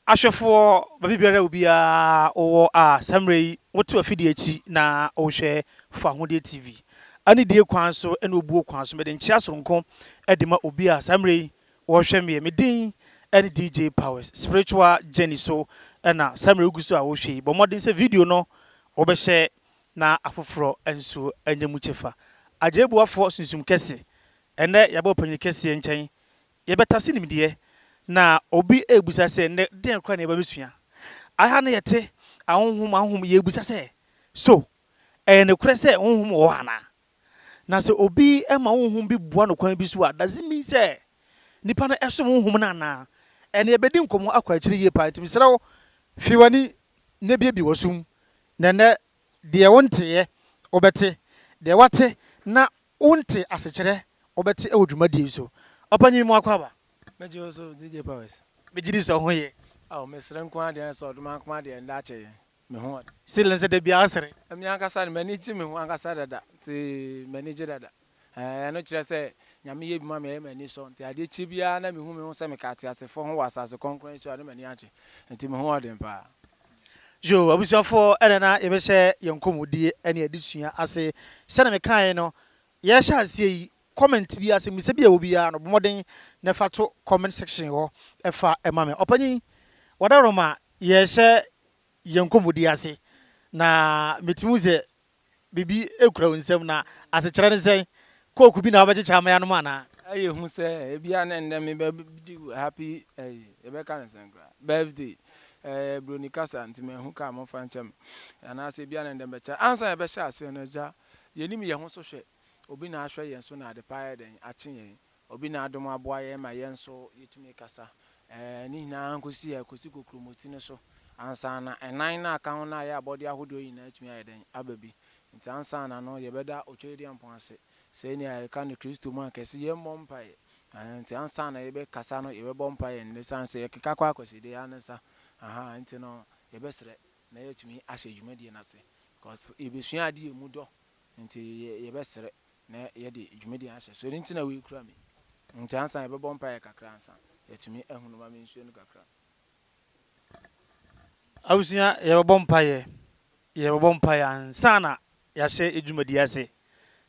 Ahwɛfoɔ baabiara obiara wowɔ a saa mmerɛ yi wote w'afidie akyi na wohwɛ Fawohodie TV. Anidie kwan so ne obuo kwan so mede nkyea soronko de ma obi a saa mmerɛ yi wɔrehwɛ meɛ. Me din ne DJ Powers. Spiritual journey so na saa mmerɛ yi wogu so a wohwɛ yi. Bɔ mmɔden sɛ video no wobɛhyɛ na afoforɔ nso anya mu kyɛfa. Agyɛɛbuafoɔ sunsum kɛse, ɛnnɛ yɛaba ɔpanyin kɛseɛ nkyɛn, yɛbɛtase nimdeɛ, na obi rebisa sɛ, Nnɛ, deɛn koraa na yɛba abɛsua? Aha no yɛte ahonhom ahonhom, yɛrebisa sɛ, So ɛyɛ nokorɛ sɛ honhom wɔ hɔ anaa? Na sɛ obi ma honhom bi boa no kwan bi so a, does it mean sɛ nipa no som honhom no anaa? Ɛnna yɛbɛdi nkɔmmɔ akɔ akyiri yie paa, nti mesrɛ wo, fi w'ani na buebue w'asom Na ɛnnɛ, deɛ wonteeɛ, wobɛte, deɛ woate na wonte asekyerɛ, wobɛte wɔ dwumadie yi so. Ɔpanyin mu akwaaba. Mɛgye wo so, DJ Powers. Megye di sɛ wo ho ye. Ao, mesere nko ara deɛ ɛne sɛ ɔdom ankoma deɛ ɛnnɛ akyɛ yɛn. Me ho ɔden. Ceiling sɛ da biara sere. Me ankasa no, m'ani gye me ho ankasa dada, nti m'ani gye dada. Ɛɛ, ɛno kyerɛ sɛ Nyame yɛ bi ma me a, ɛyɛ m'ani sɔ. Enti adeɛ kyɛ biara na mehu me ho sɛ meka ateasefoɔ ho wɔ asase kronkron yi so a, na m'ani agye. Enti me ho wɔ den paa. Yo, abusuafoɔ, ɛnɛ na yɛbɛhyɛ yɛn nkɔmmɔdie ne adesua ase. Sɛdeɛ mekaeɛ no, yɛrehyɛ aseɛ yi, comment biara, asɛmmisa bi a ɛwɔ biara no, bɔ mmɔden na fa to comment section hɔ fa ma me. Ɔpanyin, wadaworoma, yɛrehyɛ yɛn nkɔmmɔdie ase, na metumi hu sɛ biribi kura wo nsam na asekyerɛ ne sɛn? Coke bi na wobɛkyekyɛ ama yɛanom anaa? Ɛyɛ hu sɛ ebia na ɛnnɛ mebɛdi wo happy ɛyi, yɛbɛka no sɛn koraa, birthday. Ɛyɛ buroni kasa nti manhu ka a momfa nkyɛ me. Anaasɛ ebia na ɛnnɛ mɛkyɛ. Ansa yɛbɛhyɛ aseɛ no, Agya, yɛnim yɛn ho so hwɛ. Obi na ahwɛ yɛn so na ade pa ayɛ dɛn? Akye yɛn. Obi na adom aboa yɛn ma yɛn nso yɛtumi kasa. Ɛɛ, ne nyinaa nkɔsi a ɛkɔsi kokuromoti no so ansa na ɛnan no a ɛka ho no a ɛyɛ abɔdeɛ ahodoɔ nyinaa atumi ayɛ dɛn? Aba bi. Nti ansa na no yɛbɛda Otwayediampɔn ase. Sɛnea yɛka no Kristo mu a, anka ɛsɛ yɛmmɔ mpaeɛ. Ahaa, nti ansa na yɛbɛkasa no, yɛbɛbɔ mpaeɛ nnɛ ɛsiane sɛ yɛkeka kɔ Akwaside ara no sa. Ahaa, nti no yɛbɛsrɛ na yɛatumi ahyɛ dwumadie no ase. Cos yɛbɛsua adeɛ a ɛmu dɔ, nti yɛbɛsrɛ na yɛde dwumadi no ahyɛ so, ɛno nti na wei kura me nti ansa yɛbɛbɔ mpaeɛ kakra ansa yɛatumi ahu no ma me nsuo no kakra. Abusua yɛbɛbɔ mpaeɛ, yɛbɛbɔ mpaeɛ ansa na yɛahyɛ dwumadi ase,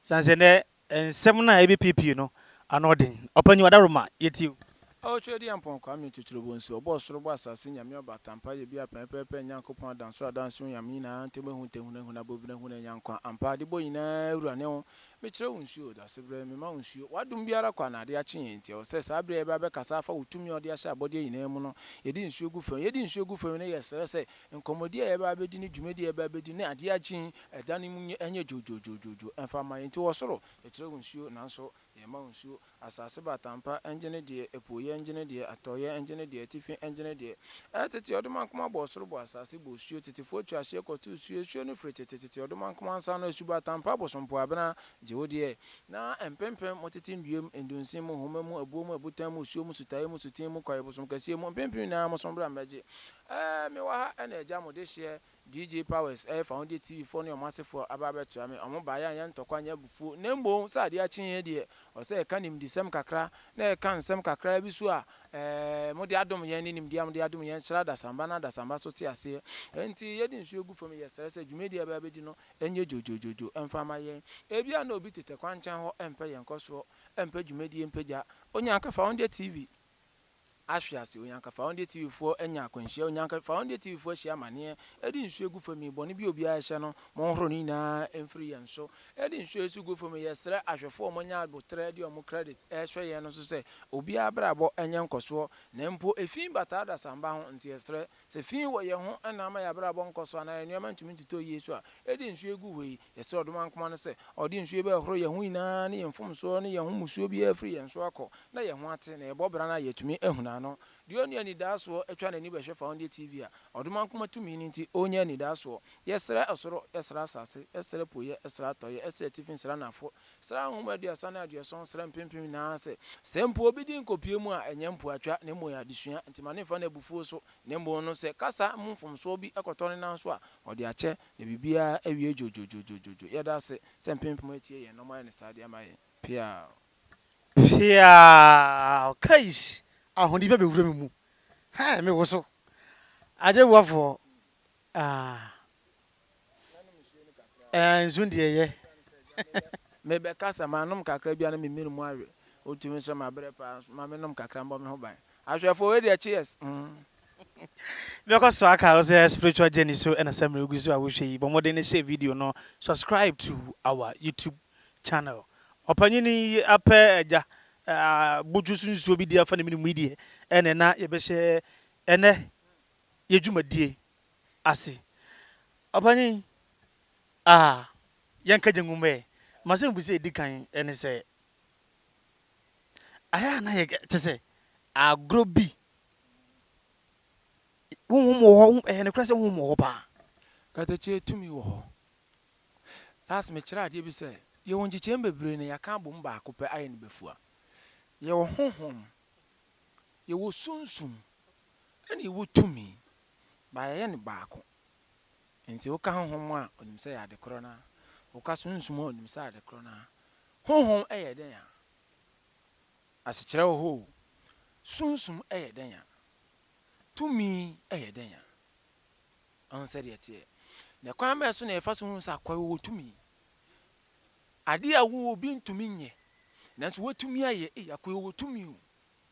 sane sɛ nɛ nsɛm no a ɛbɛpiepie no ano ɔden, Ɔpanyin Adaworoma yɛtie wo. Ɔtwerɛdiampɔn Kwame Tuturubo nso, ɔbɔɔ soro bɔɔ asase Nyame ɔba Atampa yɛ biaa pɛɛpɛɛpɛ Nyankopɔn adansoro adansoro Nyame nyinaa ntɛm ehu ntɛm hunu ehunu abɔbene hunu anya nkwa ampa Adebɔ nyinaa Wura ne wo Mekyerɛ wo nsuo Dasebrɛ mema wo nsuo W'adom biara kɔ anaa ade akye yɛn Nti ɛwɔ sɛ saa bere a yɛbɛ abɛkasa afa wo tumi a ɔde ahyɛ abɔdeɛ nyinaa mu no yɛde nsuo gu fam Yɛde nsuo gu fam no yɛsrɛ sɛ nkɔmmɔdie a yɛbɛ abɛdi ne dwumadie a yɛbɛ abɛdi ne adeɛ akye yi ɛda no mu nyɛ ɛnyɛ dwoodwoodwoodwoodwoo ɛmfa mma yɛn Nti wɔ soro yɛkyerɛ wo nsuo nanso Yɛma wo nsuo, asase batampa ngye ne deɛ, apueɛ ngye ne deɛ, atɔeɛ ngye ne deɛ, atifi ngye ne deɛ. Ɛɛ tete ɔdomankoma bɔɔ soro bɔɔ asase bɔɔ osuo, tetefoɔ tu ahyeɛ kɔtoo suo, asuo no firi tete tete ɔdomankoma nsa ano, asubatampa abosompoabena, gye wo deɛ. Na mpempem mo tete nnua mu, ndunsin mu, nhoma mu, abuo mu, abutan mu, osuo mu, sutaeɛ mu, sutee mu, kwaeɛ bosom kɛseɛ mu, mpempem nyinaa mosom bra mmɛgye. Ɛɛ mewɔ ha na agya mo dehyeɛ, DJ Powers, Ɛyɛ fa wo deɛ TV foɔ ne wɔn asefoɔ aba abɛtoa me, wɔn baeɛ anyɛ ntɔkwa anyɛ abufuo, na mmom sɛ adeɛ akye yɛn deɛ, ɔsɛ sɛ yɛka nimdesɛm kakra, na yɛka nsɛm kakraa bi so a ɛɛ mode adom yɛn ne nimdeɛ a mode adom yɛn kyerɛ adasamba na adasamba so te aseɛ. Enti yɛde nsuo gu fam, yɛsrɛ sɛ dwumadie a yɛbɛ abɛdi no nyɛ dwodwodwodwo mfa mma yɛn. Ebia na obi tete kwankyɛn hɔ mpɛ yɛn nkɔsoɔ, mpɛ dwumadie mpagya. Onyanka fa wo deɛ TV. ahwe ase Onyanka Faondeɛ TV foɔ anya akwanhyia Onyanka Faondeɛ TV foɔ ahyia amaneɛ Ɛde nsuo gu fam yi Bɔne bi a obiara ahyɛ no Monhoro ne nyinaa mfiri yɛn so Ɛde nsuo yi nso gu fam yi Yɛsrɛ ahwɛfoɔ a wɔanya aboterɛ de wɔn credit rehwɛ yɛn no nso sɛ obiara abrabɔ nyɛ nkɔsoɔ Na mpo efi bataa adasamba ho Nti yɛsrɛ Sɛ fi wɔ yɛn ho na ama yɛn abrabɔ nkɔ so anaa yɛn nneɛma ntumi ntotɔ yiye so a, ɛdeɛn nsuo egu hɔ yi? Yɛsrɛ Ɔdomankoma no sɛ Ɔde nsuo bɛhohoro yɛn ho nyinaa ne yɛn mfomsoɔ ne yɛn ho mmusuo biara afiri yɛn so akɔ, na yɛn ho ate, na yɛbɔ bra no a yɛatumi ahunu ano. Deɛ ɔnni anidaasoɔ twa n'ani bɛhwɛ fa ɔndeɛ TV a, Ɔdomankoma tumi no nti, ɔrenya anidaasoɔ. Yɛsrɛ ɔsoro, yɛsrɛ asase, yɛsrɛ apueɛ, yɛsrɛ atɔeɛ, yɛsrɛ atifi, yɛsrɛ anafo, Sra nhoma aduasa ne aduɔson sra mpempem nyinaa ase. Sɛ mpo obi din kɔpue mu a, ɛnyɛ mpoatwa, na mmom ɛyɛ adesua. Enti ma no mfa no abufuo so, na mmom no, sɛ kasa mu mfomsoɔ bi kɔtɔ ne nan so a, ɔde akyɛ, na biribiara awie dwoodwoodwoodwoo. Yɛda ase sɛ mpempem atie yɛn, na wɔayɛ no saa de ama yɛn. Peaw. Peaw. Kais! Ahoni bɛ bɛwura me mu. Hɛɛ! Me woso. Agye boafoɔ. Aah. Ɛɛ, nsu deɛ ɛyɛ. Mebɛkasa, manom kakra bi a na me mene mu awe. Wotumi nso mabrɛ paa nso ma menom kakra mbɔ me ho ban. Ahwɛfoɔ, wei deɛ cheers! Bi akɔ so aka wo sɛ spiritual journey so na sɛ mmerɛ wogu so a wohwɛ yi. Bɔ mmɔden na hyɛ video no subscribe to our YouTube channel. Ɔpanyin yi apɛ agya abodwo so nsuo bi de afa ne mene mu yi deɛ ɛnɛ na yɛbɛhyɛ ɛnɛ yɛ dwumadie. ase. Ɔpanyin, ah, yɛnka gyangum ɛ. M'asɛm bi sɛ edi kan ne sɛ, ayɛ a na yɛ kyɛ sɛ agorɔ bi. Honhom wɔ hɔ, ɛyɛ nokorɛ sɛ honhom wɔ hɔ paa. Katakyie tumi wɔ hɔ. Last mekyerɛ adeɛ bi sɛ, yɛwɔ nkyekyɛm bebree na yɛaka abom baako pɛ ayɛ no bɛfua. Yɛwɔ honhom, yɛwɔ sunsum. Ɛna ewɔ tumi, but yɛyɛ no baako. Enti woka honhom a, onim sɛ ɛyɛ ade korɔ no ara. Woka sunsum a, onim sɛ ade korɔ no ara. Honhom yɛ dɛn a, asekyerɛ wɔ hɔ o, sunsum yɛ dɛn a, tumi yɛ dɛn a. Wahu sɛdeɛ ɛteɛ? Na kwan bɛn so na yɛfa so hu sɛ akoa yi ɔwɔ tumi? Adeɛ a wo obi ntumi nyɛ, nanso woatumi ayɛ, ei, akoa yi ɔwɔ tumi o.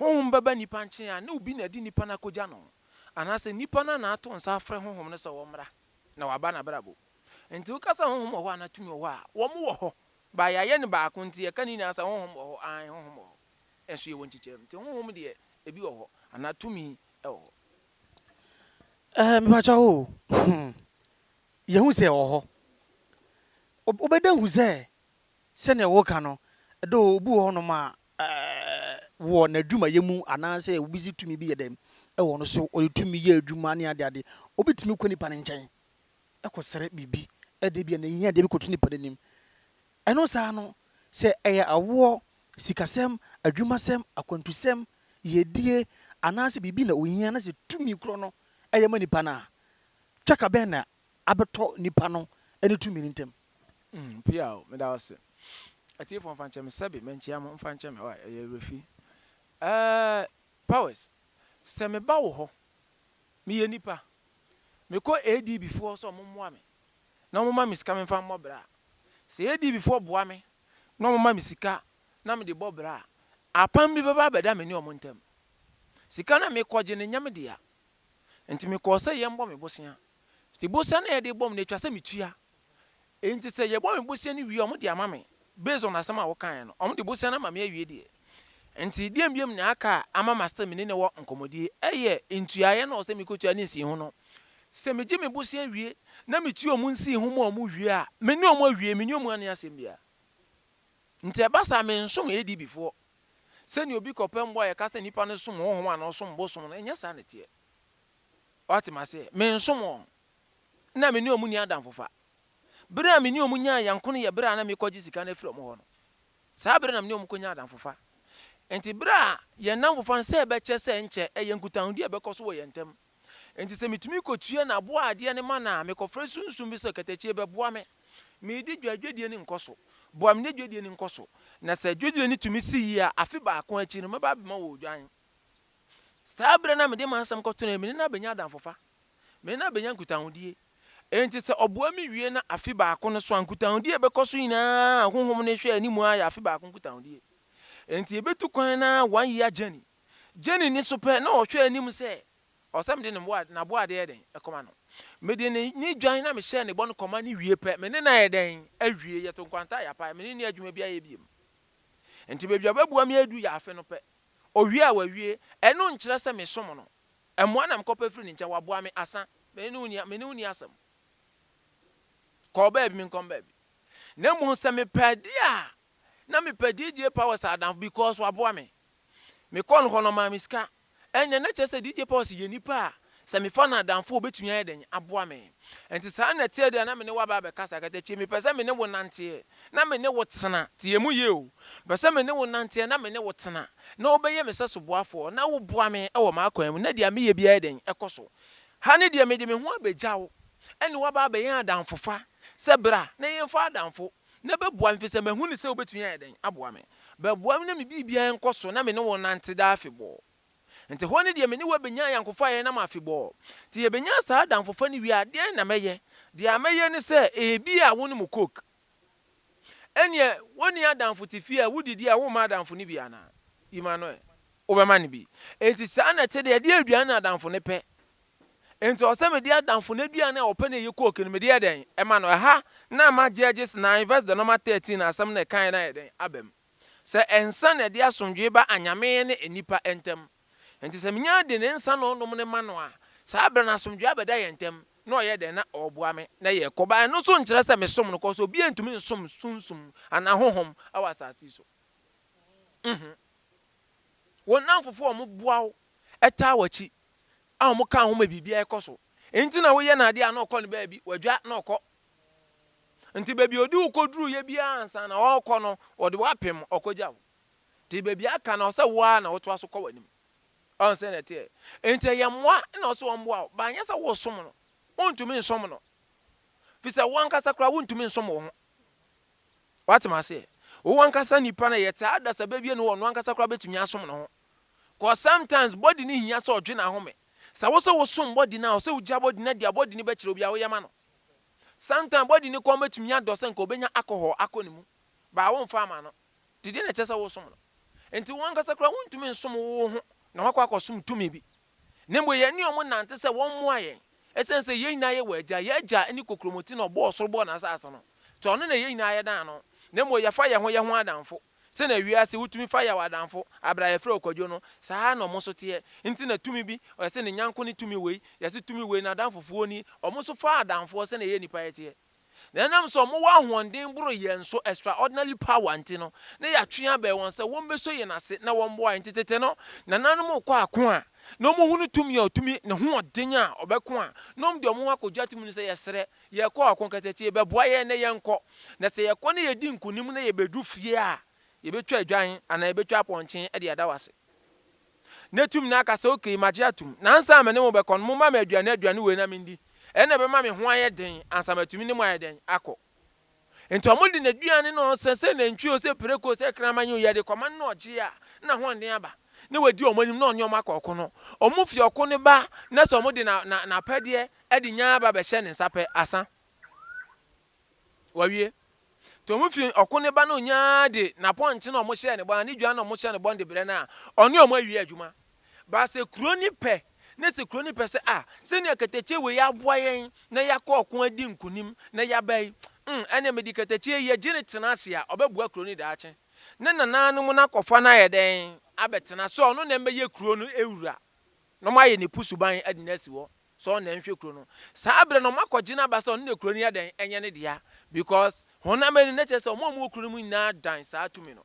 Honhom bɛba nnipa nkyen a, ne obi na ɛde nnipa no akogya no, anaasɛ nnipa no na ato nsa afrɛ Honhom no sɛ wɔmmra, na wɔaba n'abrabɔ. Enti woka sɛ Honhom wɔ hɔ anaa tumi wɔ hɔ a, wɔn wɔ hɔ, but yɛayɛ no baako nti yɛka ne nyinaa sɛ Honhom wɔ hɔ, aane, Honhom wɔ hɔ, nso yɛwɔ nkyekyɛm. Nti Honhom deɛ ebi wɔ hɔ, anaa tumi wɔ hɔ. Ɛɛ, mepakyɛw o, hmm, yɛhu sɛ ɛwɔ hɔ. Wobɛda hu sɛ Sɛnea wɔka no, though obi wɔ hɔnom a wɔ n'adwumayɛ mu anaasɛ obi dze tumi bi yɛ dɛn wɔ no so, ɔdze tumi yɛ edwuma ne adeade, obi tumi kɔ nyimpa ne nkyɛn kɔserɛ biribi dɛ bi a n'ehiadeɛ bi kɔto nyimpa n'enyim. Ɛno saa no, sɛ ɛyɛ awoɔ, sikasɛm, adwumasɛm, akwantusɛm, yiedie anaasɛ biribi na ohia na sɛ tumi korɔ no yɛ ma nyimpa no a, twaka bɛn na abɛtɔ nipa no ne tumi no ntam. Mm piaw meda wo ase. Atiefoɔ mfa nkyɛ me sɛbe mankyia mo mfa nkyɛ me wai ɛyɛ awerɛfi eh powers sɛ me ba wo hɔ me yɛ nipa me kɔ ADB foɔ hɔ sɛ ɔmo mmoa me na ɔmo ma me sika me mfa mmɔ bra a sɛ ADB foɔ boa me na ɔmo ma me sika na me de bɔ bra a apam bi bɛba abɛda me ne ɔmo ntam sika no a me kɔ gye no nyɛ me dea nti me kɔɔ sɛ yɛn bɔ me bosea Te bosea no a yɛde bɔ me no etwa sɛ metua. Enti sɛ yɛbɔ me bosea no wie a wɔde ama me based on asɛm a wokaeɛ no. Wɔde bosea no ama me awie deɛ. Enti deɛn biom na aka a ama ma still me ne no wɔ nkɔmmɔdie ɛyɛ ntuaeɛ na ɔsɛ mekɔtua ne nsiiho no. Sɛ megye me bosea wie na metua wɔn nsiiho ma wɔn wie a, me ne wɔn awie, me ne wɔn anni asɛm biara. Nti ɛba saa a mensom ADB foɔ. Sɛdeɛ obi kɔpɛ mmoa a yɛka sɛ nipa no som honhom anaa ɔsom bosom no, ɛnyɛ saa na ɛteɛ. Wate, mase, mensom wɔn. Nna me ne wɔn nni adamfofa. Bere a me ne wɔn nyaa yɛn ko no yɛ bere a na merekɔgye sika no afiri wɔn hɔ no. Saa bere no na me ne wɔn kɔnya adamfofa. Enti bere a yɛn nnamfofa nsa rebɛkyɛ sɛ nkyɛ ɛyɛ nkutahodie a ɛbɛkɔ so wɔ yɛn ntam. Enti sɛ metumi kɔtua n'aboa a adeɛ no ma no a, mekɔfrɛ sunsum bi sɛ, Katakyie, bɛboa me. Meredi dwa, dwadie no nkɔ so. Boa me na dwadie no nkɔ so. Na sɛ dwadie no tumi si yie a, afe baako akyi no, mɛba abɛma wo odwan. Saa bere no na mede m'asɛm kɔto no, na me ne no abenya adamfofa. Me ne no abenya nkutahodie. Enti sɛ ɔboa me wie na afe baako no so a, nkutahodie a ɛbɛkɔ so nyinaa a honhom no hwɛ anim ara yɛ afe baako nkutahodie. Enti yɛbɛtu kwan no ara one year journey. Jenny nni so pɛ na ɔhwɛ anim sɛ ɔwɔ sɛ mede n'aboadeɛ yɛ dɛn? Kɔma no. Mede ne ne dwan na mehyɛɛ ne bɔ no kɔma no wie pɛ, me ne no ayɛ dɛn? Awie. Yɛto nkwanta a yɛapae. Me ne no nni adwuma biara yɛ bio. Enti baabi a ɔbɛboa me adu yɛ afe no pɛ. Owie a wawie, ɛno nkyerɛ sɛ mesom no. Mmoa na mekɔpɛ firi ne nkyɛn, waboa me, asa. Me ne wo nni, me ne wo nni asɛm. Kɔ baabi, menkɔ me baabi. Na mmom sɛ mepɛ adeɛ a, na mepɛ DJ Powers adamfo because waboa me. Mekɔɔ no hɔ no, ɔmaa me sika. Ɛnneɛ na kyerɛ sɛ DJ Powers yɛ nipa a Sɛ mefa no adamfo a, obetumi ayɛ dɛn aboa me? Enti saa na ɛteɛ de a, na me ne wo aba abɛkasa. Katakyie, mepɛ sɛ me ne wo nante ɛ, na me ne wo tena. Tie mu yie o. Mepɛ sɛ me ne wo nante ɛ, na me ne wo tena. Na wobɛyɛ me sɛ soboafoɔ, na woboa me wɔ m'akwan mu, na deɛ meyɛ biara yɛ dɛn? Ɛkɔ so. Ha no deɛ, mede me ho abɛgya wo, ɛne wo aba abɛyɛ adamfofa. Sɛ bra, na yɛmfa adamfo, na bɛboa me, ɛfiri sɛ mahu no sɛ wobɛtumi ayɛ dɛn aboa me? Bɛboa me na me biribiara nkɔ so, na me ne wo nnante daa afebɔɔ. Ntsi hɔ no deɛ me ne wo abenya anyɛnkofo a yɛnam afebɔɔ. Ntsi yɛbenya saa adamfofa no wie a, deɛn na mɛyɛ? Deɛ mɛyɛ ne sɛ, ebi a wonom coke. Ɛnneɛ, wonni adamfo te fie a wodidi a womma adamfo no bi anaa? Yi ma no ɛ. Wobɛma no bi. Enti saa na ɛte deɛ ɛdeɛ aduane na adamfo no pɛ. Enti ɔwɔ sɛ mede adamfo no aduane a ɔpɛ no a ɛyɛ coke no, mede yɛ dɛn? Ɛma no. Ɛha na ama Judges nnan verse de nɔma thirteen asɛm no a ɛkaeɛ no ayɛ dɛn? Aba mu. Sɛ nsa na ɛde asomdwoe ba anyame ne nnipa ntam. Enti sɛ minya de ne nsa na ɔnom no ma no a, saa bere no asomdwoe abɛda yɛn ntam, na ɔyɛ dɛn na ɔreboa me na yɛkɔ? Ba, ɛno nso nkyerɛ sɛ mesom no, kɔso obiara ntumi nsom sunsum anaa honhom wɔ asase yi so. Mm-hmm. Wo nnamfofo a wɔboa wo, taa w'akyi, a wɔka wo ho ma biribiara kɔ so, enti na woyɛ no ade a na ɔkɔ no baabi, wadwa na ɔkɔ, Nti baabi a ɔde wo kɔduruiɛ biara ansa na ɔrekɔ no, ɔde wo apem, ɔkɔgya wo. Nti baabi a aka no, ɔsɛ wo ara na wotoa so kɔ w'anim. Ɔho sɛ na ɛteɛ. Nti ɛyɛ mmoa na ɔsɛ ɔmmoa wo, but anyɛ sɛ woresom no. Wontumi nsom no. Firi sɛ wo ankasa koraa wontumi nsom wo ho. Woate m'aseɛ? Wo ankasa nipa no, yɛtaa adasabɛ wie no hɔ, ɔno ankasa koraa bɛtumi asom ne ho. Cause sometimes body no hia sɛ ɔdwe no ahome. Sɛ wosɛ wosom body no a, ɔsɛ wogya body no adi a body no bɛkyerɛ wo bia woyɛ ma no. Sometimes body ne kɔn betumi adɔ sɛ nka obenya alcohol akɔ ne mu, but womfa ama no. Dedeɛ na ɛkyɛ sɛ wosom no. Nti wo ankasa koraa wontumi nsom wo wo ho na woakɔ akɔsom tumi bi. Na mmom yɛn ne wɔn nante sɛ wɔn mmoa yɛn. Ɛsiane sɛ yɛn nyinaa yɛ wɔ Agya, yɛn Agya ne kokuromoti na ɔbɔɔ ɔsoro bɔɔ n'asase no. Nti ɔno na yɛn nyinaa yɛdan no. Na mmom yɛfa yɛn ho yɛn ho adamfo. Sɛnea wiase ho tumi fa yaw adamfo bere a yɛfrɛ wo kwadwo no, saa ara na wɔn nso teɛ. Enti na tumi bi, ɔyɛ sɛ ne nyɛnko ne tumi wei, yɛ sɛ tumi wei n'adamfofoɔ nie, wɔn nso fa adamfoɔ sɛnea yɛn nnipa yɛ teɛ. Na ɛnam sɛ wɔwɔ ahoɔden boro yɛn so, extraordinary power, nti no, na yɛatwe abɛn wɔn sɛ wɔmmɛsɔ yɛn ase na wɔmmoa yɛn. Enti tete no, nananom rekɔ ako a, na wɔhunu tumi a ɔtumi, ne hoɔden a ɔbɛko a, na wɔde wɔn ho akɔgya tumi no sɛ yɛsrɛ, Yɛkɔ ɔko kɛtɛ tie bɛboa yɛn na yɛnkɔ. Na sɛ yɛkɔ na yɛdi nkonim na yɛbɛdu fie a, yɛbɛtwa adwan anaa yɛbɛtwa apɔnkye de ada wo ase. Na tumi no aka sɛ, Okay, magye atom. Na ansa na me ne mo bɛkɔ no, momma me aduane aduane wei na mendi. Ɛnna ɛbɛma me ho ayɛ den ansa matumi ne mo ayɛ dɛn akɔ. Enti wɔde n'aduane ne ɔnsã, sɛ nantwi o, sɛ prako o, sɛ kraman yi o, yɛde kɔma no na ɔgye a, na ahoɔden aba, na wadi wɔn anim, na ɔne wɔn akɔ ɔko no. Wɔfi ɔko no ba, na sɛ wɔde n'apɛdeɛ de nya aba bɛhyɛ ne nsa pɛ, asa. Wɔawie. Nti wɔfi ɔko no ba na ɔnya de n'apɔnkye na wɔhyɛɛ no bɔn, anaa ne dwan na wɔhyɛɛ no bɔn de brɛ no a, ɔne wɔn awie adwuma. Ba sɛ kuro no pɛ, na sɛ kuro no pɛ sɛ ah, sɛnea katakyie wei aboa yɛn na yɛakɔ ɔko adi nkunim na yɛaba yi, mm, ɛnneɛ mede katakyie yi, yɛgye no tena ase a, ɔbɛboa kuro no daakye. Ne nananom no akɔfa no ayɛ dɛn? Abɛtena. Sɛ ɔno na ɛbɛyɛ kuro no wura, na wɔayɛ no ɛpo suban de no asi hɔ sɛ ɔno na ɛnhwɛ kuro no. Saa berɛ no, wɔakɔgye no aba sɛ ɔno na kuro no yɛ dɛn? Ɛnyɛ ne dea. Because, honam ani no, na kyerɛ sɛ wɔn a wɔwɔ kuro no mu nyinaa dan saa tumi no.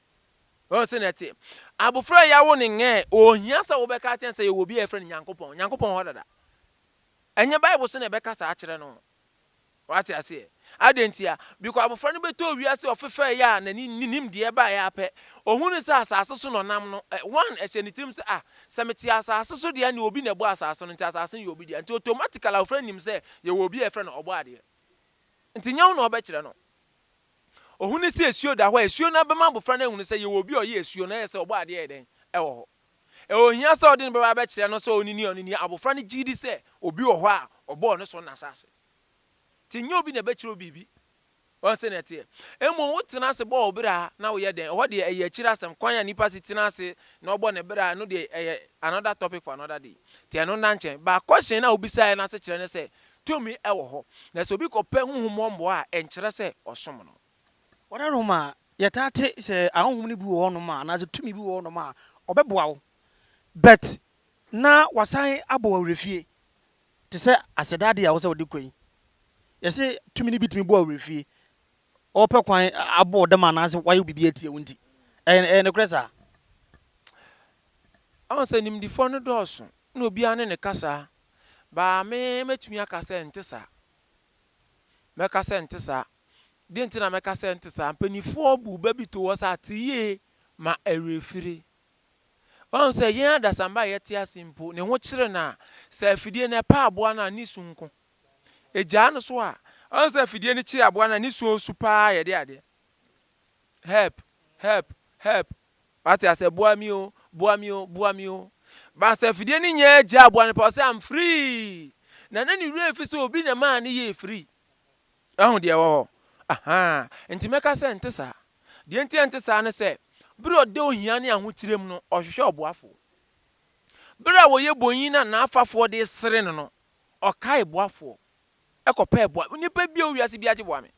Ɔyɛ sɛ na ɛte. Abofra a yɛawo no nyɛ, ohia sɛ wobɛka akyerɛ sɛ yɛwɔ obi a yɛfrɛ no Nyankopɔn. Nyankopɔn hɔ dada. Ɛnyɛ Bible so na ɛbɛka saa akyerɛ no. Wate aseɛ? Adɛn ntia? Biko abofra no bɛtɔɔ wiase ɔfefɛeɛ a n'ani nnim deɛ ɛbaeɛ ara pɛ. Ɔhunuu sɛ asase so na ɔnam no. One, ɛhyɛɛ ne tirim sɛ, Ah, sɛ mete asase so deɛ ɛnneɛ obi na ɛbɔɔ asase no, nti asase no yɛ obi dea. Nti automatically abofra no nim sɛ yɛwɔ obi a yɛfrɛ no Ɔbɔadeɛ. Nti nyɛ wo na wobɛkyerɛ no. Ohun no sɛ asuo da hɔ a asuo no bɛma abofra no ahunu sɛ yɛwɔ obi a ɔyɛ asuo na ɛyɛ sɛ ɔbɔɔ adeɛ yɛ dɛn wɔ hɔ. Ɛwɔ hia sɛ ɔde no bɛba abɛkyerɛ no sɛ ɔne ni a ɔne ni. Abofra no gye di sɛ obi wɔ hɔ a ɔbɔɔ no so no asase. Nti nyɛ obi na ɛbɛkyerɛ wo biribi. Wɔn sɛ na ɛteɛ. Mmom wotena ase bɔ wo bra na woyɛ dɛn. Ɛhɔ deɛ ɛyɛ akyiri asɛm. Kwan a nipa si tena ase na ɔbɔ ne bra ɛno deɛ ɛyɛ another topic for another day. Nti ɛno nna nkyɛn. Ba question no a wobisaeɛ no asekyerɛ ne sɛ Tumi wɔ hɔ, na sɛ obi kɔpɛ honhom hɔ mmoa a, ɛnkyerɛ sɛ ɔsom no. Wɔda no ma yɛtaa te sɛ ahonhom no bi wɔ hɔnom a, anaasɛ tumi bi wɔ hɔnom a, ɔbɛboa wo. But na wasan abɔ w'awerɛfie te sɛ aseda adeɛ a ɛwɔ sɛ wode kɔ yi. Yɛse tumi no bi tumi bɔ awerɛfie, ɔpɛ kwan abɔ wo dam anaasɛ wayɛ wo biribi atia wo nti. Ɛyɛ ɛyɛ nokorɛ saa? Ɔhu sɛ nimdefoɔ no dɔɔso, na obiara ne ne kasa Baa me, mɛtumi aka sɛ ɛnte saa. Mɛka sɛ ɛnte saa. Deɛ nti na mɛka sɛ ɛnte saa, mpanimfoɔ buu ba bi too hɔ sɛ ate yie ma awerɛfire. Woahu sɛ yɛn adasamba a yɛte ase mpo, ne ho kyere no a, sɛ afidie no ɛpɛ aboa no a, ne su nko. Ɛgyaa no so a, woahu sɛ afidie no kye aboa no a, ne su a ɔsu pa ara yɛ deɛ adeɛ. Help! Help! Help! Wate asɛ boa me o, boa me o, boa me o. But sɛ afidie no nyɛ gya a boa no paa ɔsɛ I'm free. Na na ne werɛ fi sɛ obi na ɛmaa no yɛɛ free. Wahu deɛ ɛwɔ hɔ? Ahaa, nti mɛka sɛ ɛnte saa. Deɛ nti a ɛnte saa ne sɛ, berɛ a ɔda ohia ne ahokyerɛ mu no, ɔhwehwɛ ɔboafoɔ. Berɛ a ɔyɛ bonyin na n'afafoɔ de resere no no, ɔkae boafoɔ. kɔpɛɛ boa. Onipa biara wɔ wiase biara gye boa me.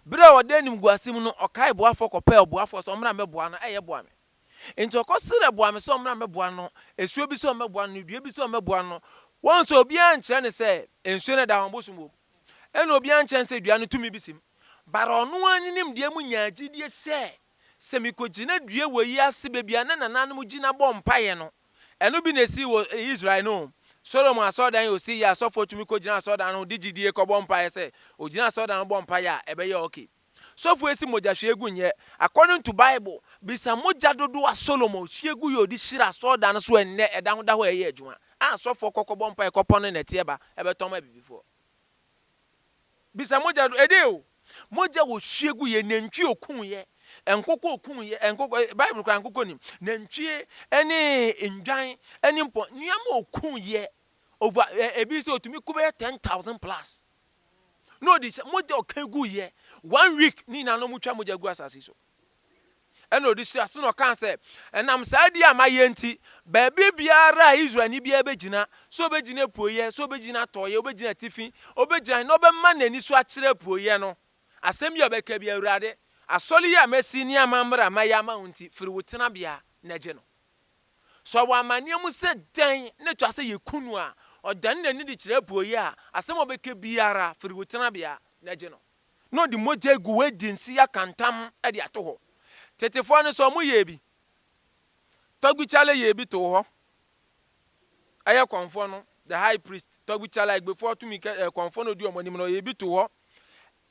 Bere a ɔda animguase mu no, ɔkae boafo kɔpɛɛ ɔboafo sɛ ɔmmra mmɛboa no, ɛyɛ boa me. Enti ɔkɔ srɛ boa me sɛ ɔmmra mmɛboa no, asuo bi sɛ ɔmmɛboa no, dua bi sɛ ɔmmɛboa no. Wɔn sɛ obiara ankyerɛ no sɛ nsuo no da hɔ a ɔbosom wom. Ɛna obiara ankyerɛ no sɛ dua no tumi bi sim. Bara ɔno ara ne nimdeɛ mu nyaa gyidie sɛ, sɛ mekɔgyina dua wei ase baabi a na nananom gyina bɔ mpaeɛ no, Ɛno bi na esii wɔ Israel no o. Solomon asɔredan a osii yɛ a sɔfoɔ tumi kɔgyina asɔredan no ho de gyidie kɔbɔ mpaeɛ sɛ ɔgyina asɔredan ho bɔ mpaeɛ a, ɛbɛyɛ ok. Sɔfoɔ esi mogya hwie gu nyɛ. According to Bible, bisa mogya dodoɔ a Solomon hwie guiɛ a ɔde hyira asɔredan no so ɛnnɛ, ɛda ho da hɔ a ɛyɛ adwuma, a sɔfoɔ kɔ kɔbɔ mpaeɛ kɔpɔn no nnɛteɛ ba bɛtɔn ma abibifoɔ. bisa mogya do ɛdɛ o mogya wɔ sue gu yɛ nantwie okun yɛ nkokɔ okun yɛ nkokɔ eh, bible kora nkokɔ nim nantwie ɛne ndwan ɛne mpɔ nneɛma okun yɛ over ɛ eh, ebi sɛ otumi kɔ bɛyɛ ten thousand plus na ɔde hyɛ mogya ɔka gu yɛ one week ne nyinaa na ɔmo twa mogya gu asase so. Ɛnna ɔde hyɛɛ aseɛ na ɔkaa sɛ, Ɛnam saa adi a mayɛ nti, baabi biara a Israelni biara bɛgyina, sɛ ɔbɛgyina apueeɛ, sɛ ɔbɛgyina atɔeɛ, ɔbɛgyina atifi, ɔbɛgyina he na ɔbɛma n'ani so akyerɛ apueeɛ no, asɛm yi a ɔbɛka biara, Awurade, asɔre yi a masi ne amammrɛ a mayɛ ama wo nti, firi wo tenabea na gye no. Sɛ ɔwɔ amanneɛ mu sɛ dɛn na ɛtwa sɛ yɛku no a, ɔdane n'ani de kyerɛ apueeɛ a, asɛm a ɔbɛka biara, firi wo tenabea na gye no. na ɔde mogya agu hɔ adi nse yɛaka ntam de ato hɔ. Tetefoɔ no nso wɔyɛɛ bi. Tɔgbikyala yɛɛ bi too hɔ. Ɛyɛ Kɔmfoɔ no, the high priest, Tɔgbikyala, Egbefoɔ tumi kɛ, eh, Kɔmfoɔ no ɔdi wɔn anim no, ɔyɛɛ bi too hɔ.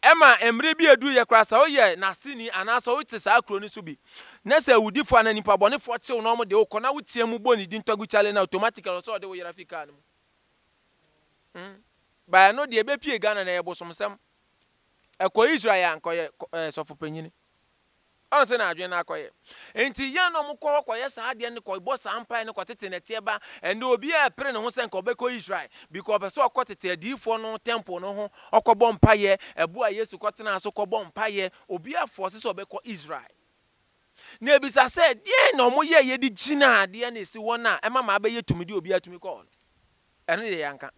Ɛma mmerɛ bi aduruiɛ koraa sɛ woyɛ n'aseni anaasɛ wote saa kuro no so bi na sɛ awudifoɔ anaa nnipa bɔnefoɔ kye wo na wɔde wo kɔ na woteam bɔ ne din Tɔgbikyala no a, automatically ɛwɔ sɛ wɔde wo yera firi kaa no mu. Mm. Baɛ no deɛ bɛpie Ghana no ɛyɛ bosomsɛm. Ɛkɔ Israel a anka ɔyɛ ɛɛ sɔfopanyini. Ɔn sɛnea adwene no akɔyɛ. Nti yɛn na wɔkɔ hɔ kɔyɛ saa adeɛ no kɔbɔ saa mpaeɛ no kɔtete nɛteɛ ba. Ɛnde obiara ɛpere ne ho sɛ anka ɔbɛkɔ Israel because ɔpɛ sɛ ɔkɔ tete adiyifoɔ no temple no ho ɔkɔbɔ mpaeɛ. Ɛbo a Yesu kɔtenaa so kɔbɔ mpaeɛ. Obiara force sɛ ɔbɛkɔ Israel. Na ɛbisa sɛ deɛn na wɔyɛeɛ de gyinaa adeɛ no ɛsi hɔ no a ɛma ma abɛyɛ tumidi a obiara tumi kɔ hɔ no. Ɛno deɛ yɛanka.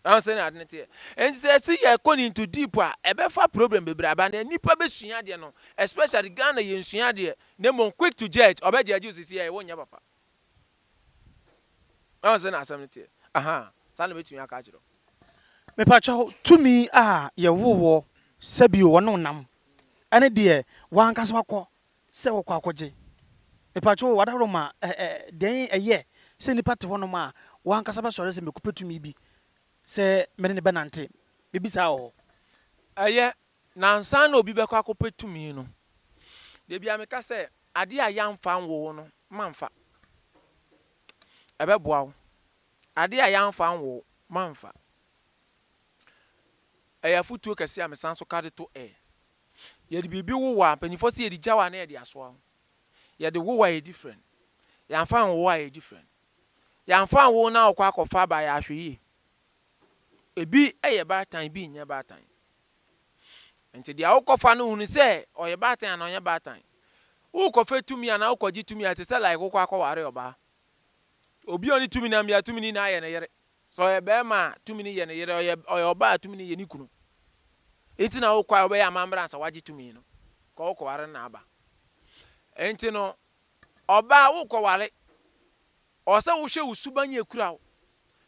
Wahu sɛnea ade no teɛ? Enti sɛ yɛse yɛkɔ no into deep a, ɛbɛfa problem bebree aba. Nea nnipa bɛsua deɛ no, especially Ghana yɛnsua adeɛ, na mmom quick to judge, ɔbɛ judge wo seesei ɛɛ wonyɛ papa. Wahu sɛnea asɛm no teɛ? Ahaa, saa na mɛtumi aka akyerɛ wo. Mepakyɛw, tumi a yɛwoo woɔ sɛ bio wɔne wo nam, ɛne deɛ w'ankasa woakɔ sɛ wɔkɔ akɔgye. Mepakyɛw o, adaworoma a ɛ, dɛn ɛyɛ sɛ nipa te hɔnom a wankasa bɛsɔre sɛ mekɔpɛ tumi bi sɛ mene no bɛnante? Mebisaa wɔ hɔ. Ɛyɛ, na ansa na obi bɛkɔ akɔpɛ tumi no, da biara meka sɛ, Adeɛ a yɛamfa anwo wo no, mamfa. Ɛbɛboa wo. Adeɛ a yɛamfa anwo wo, mamfa. Ɛyɛ afotuo kɛseɛ a mesan so ka de to ɛ. Yɛde biribi wo wo a, mpanyimfoɔ se yɛde gya wo a na yɛde asoa wo. Yɛde wo wo a yɛ different. Yɛamfa anwo wo a yɛ different. Yɛamfa anwo wo na wokɔ akɔfa aba a yɛ ahwɛyie. Ebi yɛ baatan, ebi nyɛ baatan. Nti deɛ wokɔfa no hunu sɛ ɔyɛ baatan anaa ɔnyɛ baatan. Wokɔfɛ tumi anaa wokɔgye tumi a ɛte sɛ like wokɔ akɔware ɔbaa. Obi a ɔne tumi nam yɛ a tumi no nyinaa yɛ ne yere. Sɛ ɔyɛ barima a, tumi no yɛ ne yere, ɔyɛ ɔyɛ ɔbaa a, tumi no yɛ ne kunu. Nti na wokɔ a wobɛyɛ amambra ansa wagye tumi no, kɔ wokɔware no na aba. Nti no, ɔbaa wokɔware, ɔwɔ sɛ wohwɛ wo suban a ekura wo,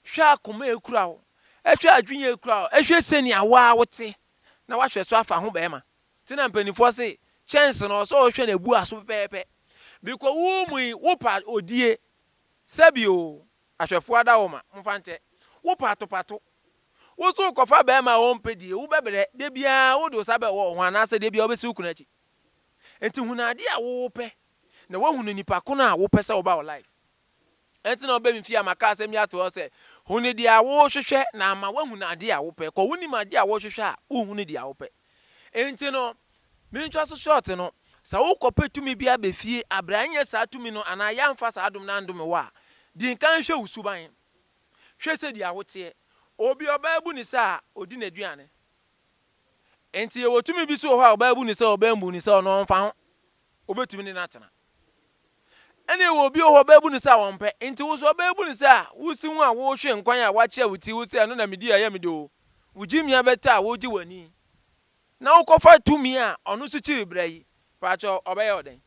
hwɛ akoma a ekura wo, hwɛ adwene a ekura wo, hwɛ sɛnea wo ara wote, na wahwɛ so afa ho barima. Nti na mpanimfoɔ se, kyɛnse no, ɔwɔ sɛ wohwɛ no abua so pɛpɛɛpɛ. Bikɔ wo mu yi, wopɛ odie? Sɛbi o, Ahwɛfo adaoma, momfa nkyɛ. Wo patopato. Wo so wokɔfa barima a ɔmpɛ die, wobɛbrɛ, da biara wode wo sa bɛwɔ wo ho anaasɛ da biara wobɛsi wo kunu akyi. Enti hunu adeɛ a wopɛ na woahunu nipa ko no a wopɛ sɛ ɔba wo life. Ɛnti na wobɛ me fie a maka asɛm yi ato hɔ sɛ, hunu deɛ a wohwehwɛ na ama woahunu adeɛ a wopɛ. Kɔ wonim adeɛ a wohwehwɛ a wohunu deɛ a wopɛ. Enti no, mentwa so short no, sɛ wokɔpɛ tumi bi aba fie abrɛ a ɛnyɛ saa tumi no anaa yɛamfa saa adom no andome wo a, di nkan hwɛ wo suban. Hwɛ sɛdeɛ woteɛ. Obi a ɔbaa bu ne sɛ a, ɔdi n'aduane. Enti yɛwɔ tumi bi nso wɔ hɔ a ɔbaa bu ne sɛ a, ɔbaa mmu ne sɛ a, ɔno ɔmfa ho. wobɛtumi ne no atena. Ɛne ɛwɔ obi wɔ hɔ ɔbɛbu no sɛ a ɔmpɛ, nti wo nso ɔbɛbu no sɛ a wosi ho a wohwe nkwan a woakyea wo ti wo sɛ ɛno na medi a ɛyɛ me de o, wo gyimia bɛtɔ a wogye w'ani na wokɔfa tumi a ɔno nso kyiri brɛ yi, paatwɔ ɔbɛyɛ wo dɛn?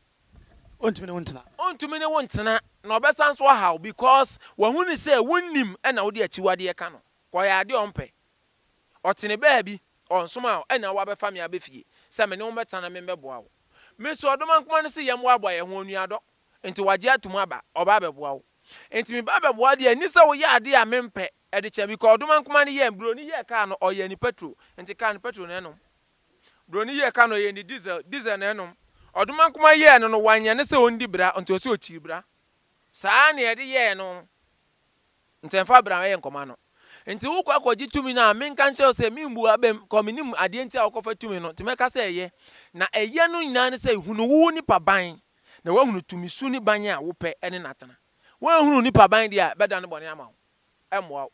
Ɔntumi ne wo ntena. Ɔntumi ne wo ntena na ɔbɛsan nso aha wo because wahu no sɛ wonnim ɛna wode akyiwadeɛ ka no, ɔyɛ adeɛ a ɔmpɛ, ɔtene baabi, ɔnsomaa wo ɛna wabɛfa me abɛ fie sɛ me ne wo mmɛtena na me mmɛboa wo. Me so ɔdomankoma no se yɛn boaboa yɛn ho, onuadɔ, nti wagye atom aba, ɔba abɛboa wo. Nti meba abɛboa wo deɛ ɛnni sɛ woyɛ adeɛ a mempɛ, ɛde kyɛ me because ɔdomankoma no yɛɛ, broni yɛɛ kaa no, ɔyɛɛ ne petrol, nti kaa no petrol na ɛnom. Broni yɛɛ kaa no, ɔyɛɛ ne diesel, diesel na ɛnom. Ɔdomankoma yɛɛ no no, wanyɛ no sɛ ɔndi bra, nti ɔse ɔkyiri bra. Saa na yɛde yɛɛ no. Ntsi mfa bra yɛ nkɔmbɔ ano. Ntsi wo kɔ akɔgye tumi no a, menka nkyerɛ wo sɛ mimbu abam, kɔ minim adeɛ nti a wokɔfa tumi no, ntsi mɛka sɛ yɛ. Na ɛyɛ no nyinaa ne sɛ hunu wo nipa ban, na woahunu tumi su ne ban a wopɛ ne n'atena. Woanhunu wo nipa ban deɛ a, ɛbɛda no bɔne ama wo, ɛmmoa wo.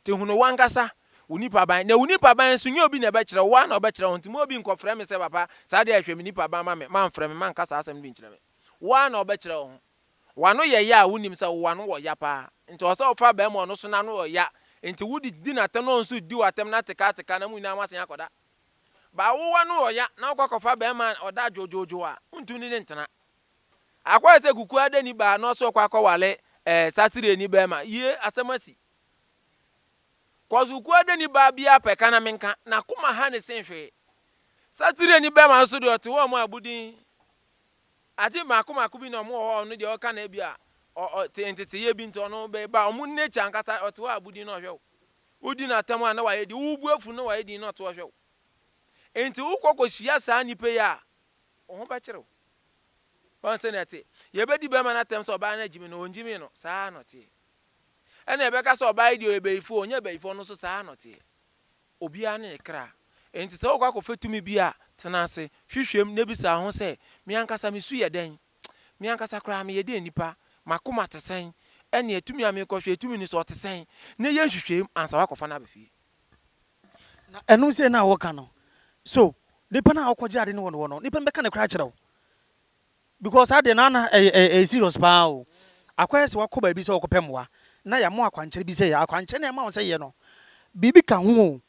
Ntsi hunu w'ankasa wo nipa ban, na wo nipa ban nso nyɛ obi na ɛbɛkyerɛ wo, wo ara na wobɛkyerɛ wo ho. Ntsi mma obi nkɔfrɛ me sɛ papa, saa deɛ hwɛ me nipa ban ma me, mamfrɛ me, manka saa asɛm no bi nkyerɛ me. Wo ara na wobɛkyerɛ wo ho. W'ano yɛ ya a wonim sɛ w'ano wɔ ya paa nti ɔsɛ ɔfa bɛɛma ɔno so n'ano yɔ ya nti wode di n'atɛm na ɔno nso di w'atɛm na ateka ateka na mo nyinaa mo asen akɔda baa wo w'ano yɔ ya na wokɔ akɔfa bɛɛma a ɔda adwoodwoodwoo a wontum ne ne ntena akɔyɛ sɛ kuku adani baa na ɔsɛ ɔkɔ akɔwale ɛɛ satireni bɛɛma yie asɛm asi kɔs kuku adani baa biara pɛ ka na menka n'akoma ha ne sen hwee satireni bɛɛma nso deɛ ɔte hɔ a ɔmo abodin Adze mako mako bi na ɔmo wɔ hɔ a ɔno deɛ ɔka no ebi a ɔ ɔ tse ntsetseyɛ bi ntsi ɔno be ba ɔmo nature ankasa ɔtse hɔ a bu din na ɔhwɛ wo. Wo di no atsɛm a na ɔayɛ din, wo bu efu na ɔayɛ din na ɔtse hɔ hwɛ wo. Ntsi wo kɔ kɔ hyia saa nyimpa yi a, wo ho bɛkyer wo. Ɔn sɛ na ɛtse. Yɛbɛdi bɛrima no atsɛm sɛ ɔbaa no agyimi no, ɔnngyimii no, saa ara na ɔtseɛ. Ɛna yɛbɛka sɛ ɔbaa yi deɛ ɔyɛ bayifo, ɔnnyɛ bayifo, ɔno nso saa ara na ɔtseɛ. Obiara ne ne kra. Enti sɛ worekɔ akɔfa tumi bi a, tena ase, hwehwɛ mu, na bisa wo ho sɛ, 'Me ankasa me su yɛ dɛn? Me ankasa koraa meyɛ dɛn nipa? M'akoma te sɛn? Ɛnneɛ tumi a merekɔhwɛ yi, tumi no so ɔte sɛn? Na yɛ nhwehwɛmu ansa woakɔfa no aba fie. Na ɛno sei no a woreka no, so nnipa no a wokɔgye ade no wɔ hɔ no, nnipa no bɛka nokorɛ akyerɛ wo? Because saa deɛ no ana ɛyɛ ɛyɛ serious paa o. Akɔyɛ sɛ wakɔ baabi sɛ ɔrekɔpɛ mmoa na yɛama wo akwankyerɛ bi sɛ yɛ. Akwankyerɛ no a yɛma wo sɛ yɛ no, biribi ka ho o,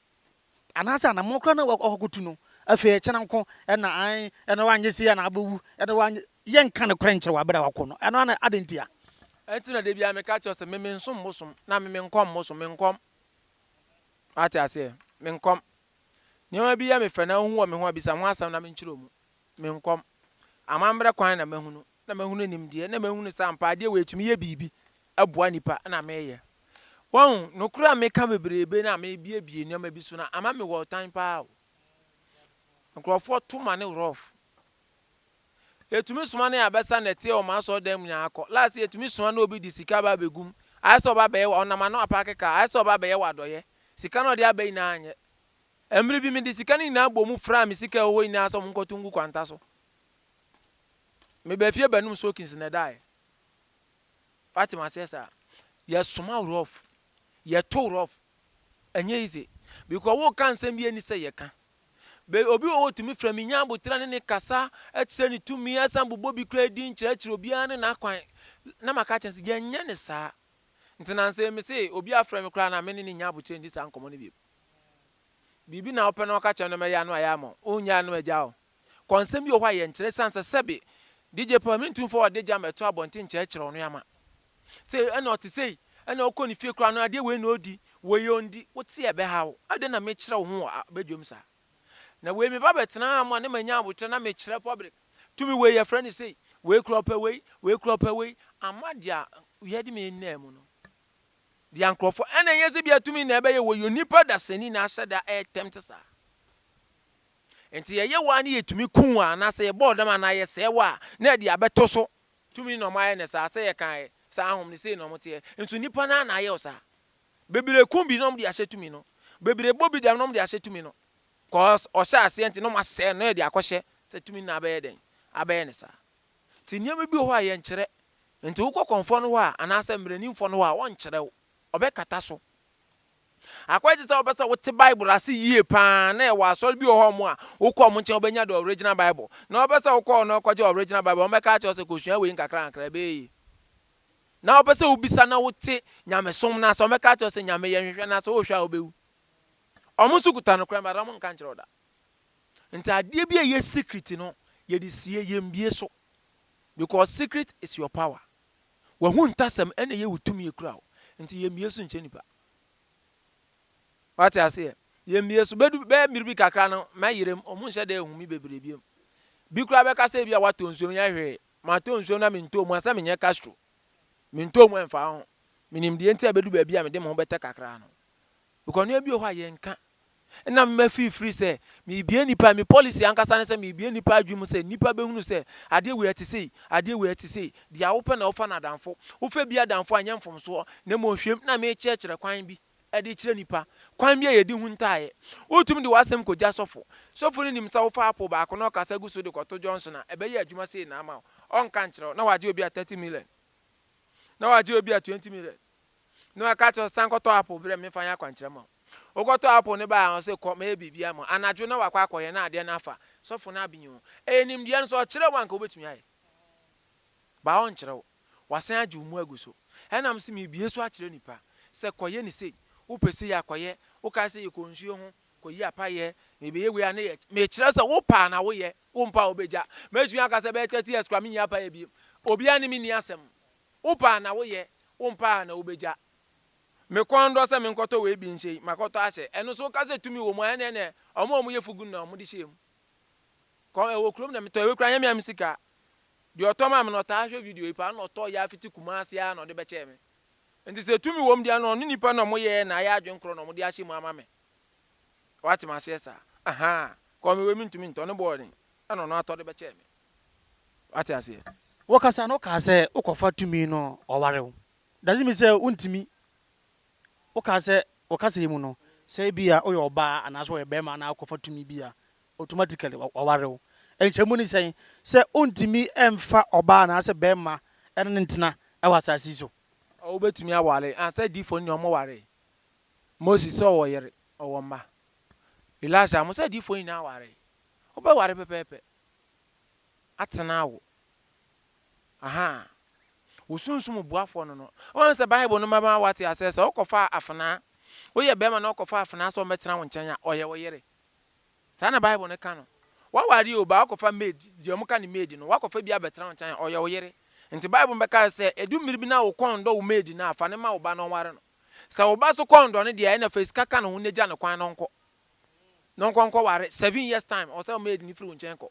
anaasɛ anammɔn koraa na wakɔtu no. Afei ɛkyena nko na ae, ɛna woanyɛ sei a na wobɛwu, ɛna woanyɛ. Yɛnka nokorɛ nkyerɛ wo aberɛ a wakɔ no. Ɛno ana adɛn ntia? Ɛnti na da biara meka kyerɛ wo sɛ me mensom bosom na me menkɔm bosom, menkɔm. Woate aseɛ? Menkɔm. Nneɛma bi yɛ me fɛ na wohu wɔ me ho a, bisa ho asɛm na menkyerɛ wo mu. Me nkɔm. Amammerɛ kwan na mahunu, na mahunu nimdeɛ, na mahunu sɛ ampa adeɛ wei tumi yɛ biribi boa nnipa na meyɛ. Wahu, nokorɛ a meka bebrebe na mebuebue nneɛma bi so no ama mewɔ ɔtan paa o. Nkorɔfoɔ to ma no rough. Yɛtumi soma no yɛ abɛsa na ɛteɛ wɔ m'asɔredan mu nyinaa akɔ. Last yɛtumi soma no obi de sika aba abɛgum. Ayɛ sɛ ɔba abɛyɛ, ɔnam ano apaake kaa, ayɛ sɛ ɔba abɛyɛ w'adɔyɛ. Sika no a ɔde aba nyinaa anyɛ. Mmere bi mede sika no nyinaa bɔɔ mu fraa me sika a ɛwɔ hɔ nyinaa sɛ wɔnkɔtow ngu kwanta so. Mebaa afie bɛnom soakins na ɛdae. Woate m'aseɛ saa? Yɛsoma wo rough. Yɛtow rough. Ɛnyɛ easy. Because woka nsɛm bi a ɛnni sɛ yɛka. Be, obi wɔ hɔ otumi frɛ me, nya abotire ne ne kasa, kyerɛ ne tumi, asan bobɔ bi koraa din, kyerɛkyerɛ obiara ne n'akwan. Na maka akyerɛ no sɛ, yɛnyɛ no saa. Nti na nsɛ mese obi afrɛ me koraa na me ne no nnya abotire nni saa nkɔmmɔ no bio. Biribi na wopɛ na wɔka kyerɛ no ma ɛyɛ ano ayɛ ama wo, wonnye anom agya wo. Kɔnsɛm bi wɔ hɔ a yɛnkyerɛ esiane sɛ sɛbe DJ Paul mentumi mfa ɔde gya mmɛto abɔnten nkyerɛkyerɛ wo no ama. Sɛ ɛna ɔte sei, ɛna wokɔ ne fie koraa no adeɛ wei na ɔdi, wei ɔndi, wote a ɛbɛha wo. Adɛn na mekyerɛ wo ho wɔ badwam saa? Na wei meba bɛtenaa mu a na manya aboterɛ na mekyerɛ public, tumi wei yɛfrɛ no sei, wei koraa ɔpɛ wei, wei koraa ɔpɛ wei, ama deɛ yɛde me nnaa mu no. Deɛ nkurɔfoɔ ɛna ɛnyɛ sɛ bia tumi na ɛbɛyɛ wɔyɛ onipa dasani na ahyɛ da ɛretɛm te saa nti yɛyɛ wɔ a ne yɛtumi ku wɔ anaasɛ yɛbɔɔ dam anaa yɛsɛe wɔ a na ɛde abɛto so tumi na ɔmayɛ ne saa sɛ yɛkaeɛ sɛ ahom ne sei na ɔmo teɛ nso nipa no na ayɛ wɔ saa bebree ku bi na ɔmo de ahyɛ tumi no bebree bɔ bi dam na ɔmo de ahyɛ tumi no cause ɔhyɛ aseɛ nti na ɔmo asɛe no yɛde akɔhyɛ sɛ tumi na abɛyɛ dɛn abɛyɛ ne saa Te nneɛma bi wɔ hɔ a yɛnkyerɛ. Enti wokɔ kɔmfoɔ no hɔ a, anaasɛ mmaranimfoɔ no hɔ a, ɔnkyerɛ wo. Ɔbɛkata so. Akɔyɛ te sɛ wopɛ sɛ wote Bible ase yie pa ara na yɛwɔ asɔre bi wɔ hɔ a, wokɔ wɔn nkyɛn a, wobɛnya the original Bible. Na wopɛ sɛ wokɔ hɔ na wokɔgye original Bible a, wɔbɛka akyerɛ wo sɛ kɔsua wei nkakrankakra, ɛbɛyɛ yie. Na wopɛ sɛ wobisa na wote nyamesom no ase a, wɔbɛka akyerɛ wo sɛ Nyame yɛ, hwehwɛ no ase, wohwɛ a wobɛhu. Wɔn nso kuta nokorɛ no, but wɔnka nkyerɛ wo da. Ntaadeɛ bi a ɛyɛ secret no yɛde sie yɛn bie so because secret is your power. Wahu ntasɛm ɛna ɛyɛ wo tumi ekura wo nti yɛn bie so nkyɛ nipa. Wate aseɛ yɛn bie so bɛdu bɛyɛ mmiri bi kakra no mɛyere mu ɔmo nhyɛ da ehu mi bebree biem. Bi koraa bɛka sɛ ebi a watɔ nsuo nyɛ hwee matɔ nsuo na mentɔɔ mu a sɛ menyɛ Castro mentɔɔ mu ɛnfaa ho menim deɛ nti a ɛbɛdu baabi a mede me ho bɛtɛ kakra no because nneɛma bi wɔ hɔ a yɛnka Nna mema firifiri sɛ merebue nnipa, me policy ankasa ne sɛ merebue nnipa adwene mu sɛ nnipa bɛhunu sɛ adeɛ wei ɛte sei, adeɛ wei ɛte sei. Deɛ wopɛ na wofa no adamfo. Wofɛ bi adamfo a ɛnyɛ mfomsoɔ, na mmom hwɛm na merekyerɛkyerɛ kwan bi de rekyerɛ nnipa kwan bi a yɛdi ho ntaaeɛ. Wotumi de w'asɛm kɔgya sɔfo. Sɔfo no nim sɛ wofa apple baako na ɔkasa gu so de kɔto Johnson a, ɛbɛyɛ adwuma sei na ama wo. Ɔnka nkyerɛ wo. Na wagye obi a thirty million. Na wagye obi a twenty million. Na waka akyerɛ wo sɛ san kɔtɔ apple brɛ me memfa nyɛ akwankyerɛ ma wo. Wokɔtɔɔ apple no bae a, ɔse kɔ, mɛyɛ biribi ama wo. Anadwo na wakɔ akɔyɛ na adeɛ no afa. Sɔfo no abenyi ho. Ɛyɛ nimdeɛ no, sɛ ɔkyerɛ wo a anka wobɛtumi ayɛ. But ɔnkyerɛ wo. Wasan agye wo mu agu so. Ɛna mese mebue so akyerɛ nnipa sɛ kɔyɛ no sei. Wopɛ sei a, kɔyɛ. Wokae sɛ yɛkɔ nsuo ho, kɔyi apa yɛ. Mebɛyɛ wei a, ne yɛ. Mekyerɛ sɛ wopɛ a na woyɛ, wompɛ a wobɛgya. Mɛtumi aka sɛ bɛyɛ thirty years koraa menyi apa yɛ bio. Obiara ne me nni asɛm. Wopɛ a na woyɛ, wompɛ a na wobɛgya. Me kɔn dɔ sɛ menkɔtɔ wei bi nhyɛ yi, makɔtɔ ahyɛ. Ɛno nso woka sɛ tumi wɔ mu a, ɛnna ɛnɛ wɔn a wɔyɛ fugu no na wɔde hyɛɛ mu. Kɔn ɛwɔ kurom na metɔ wei koraa nyɛ me a me sika. Deɛ ɔtɔ maa me no ɔtaa hwɛ video yi paa na ɔtɔ yɛ afiti Kumasi ara na ɔde bɛkyɛɛ me. Nti sɛ tumi wɔ mu deɛ na ɔne nipa na wɔyɛɛ na ayɛ adwene korɔ na wɔde ahyɛ mu ama me. Woate m'aseɛ saa? Ahaa. Kɔn me wei mentumi ntɔ, ne boɔ den, ɛnna ɔno atɔ de bɛkyɛɛ me. Woate aseɛ? Wokasa no wokaa sɛ wokɔfa tumi no ɔware wo. Does it mean sɛ wontumi? Wokaa sɛ wɔ kasa yi mu no, sɛ ebia woyɛ ɔbaa anaasɛ wɔyɛ barima na akɔfa tumi bi a, automatically wɔaware wo. Nkyɛmu ne sɛn? Sɛ ontumi mfa ɔbaa anaasɛ barima ne no ntena wɔ asase yi so. Ɔwɔ betumi aware a sɛ adiifo no deɛ ɔmo waree. Moses sɛ ɔwɔ yere, ɔwɔ mma. Elijah ɔmo sɛ adiifo nyinaa waree. Wobɛware pɛpɛɛpɛ atena awo. Ahaa. Wo sunsum boafoɔ no no. Woahu sɛ Bible no bɛma woate aseɛ sɛ wokɔfa afenaa, woyɛ barima na wokɔfa afenaa sɛ ɔmmɛtena wo nkyɛn a, ɔyɛ wo yere. Saa na Bible no ka no. Woaware obi a, woakɔfa maid, deɛ wɔka no maid no, woakɔfa bi abɛtena wo nkyɛn a, ɔyɛ wo yere. Enti Bible no bɛkae sɛ, ɛdu mmere bi na wo kɔn nnɔ wo maid no a, fa no ma wo ba na ɔnware no. Sɛ wo ba nso kɔn nnɔ no deɛ a, ɛnna fa sika ka ne ho na gya no kwan na ɔnkɔ. Na ɔnkɔ nkɔware. Seven years time, ɔwɔ sɛ maid no firi wo nkyɛn kɔ.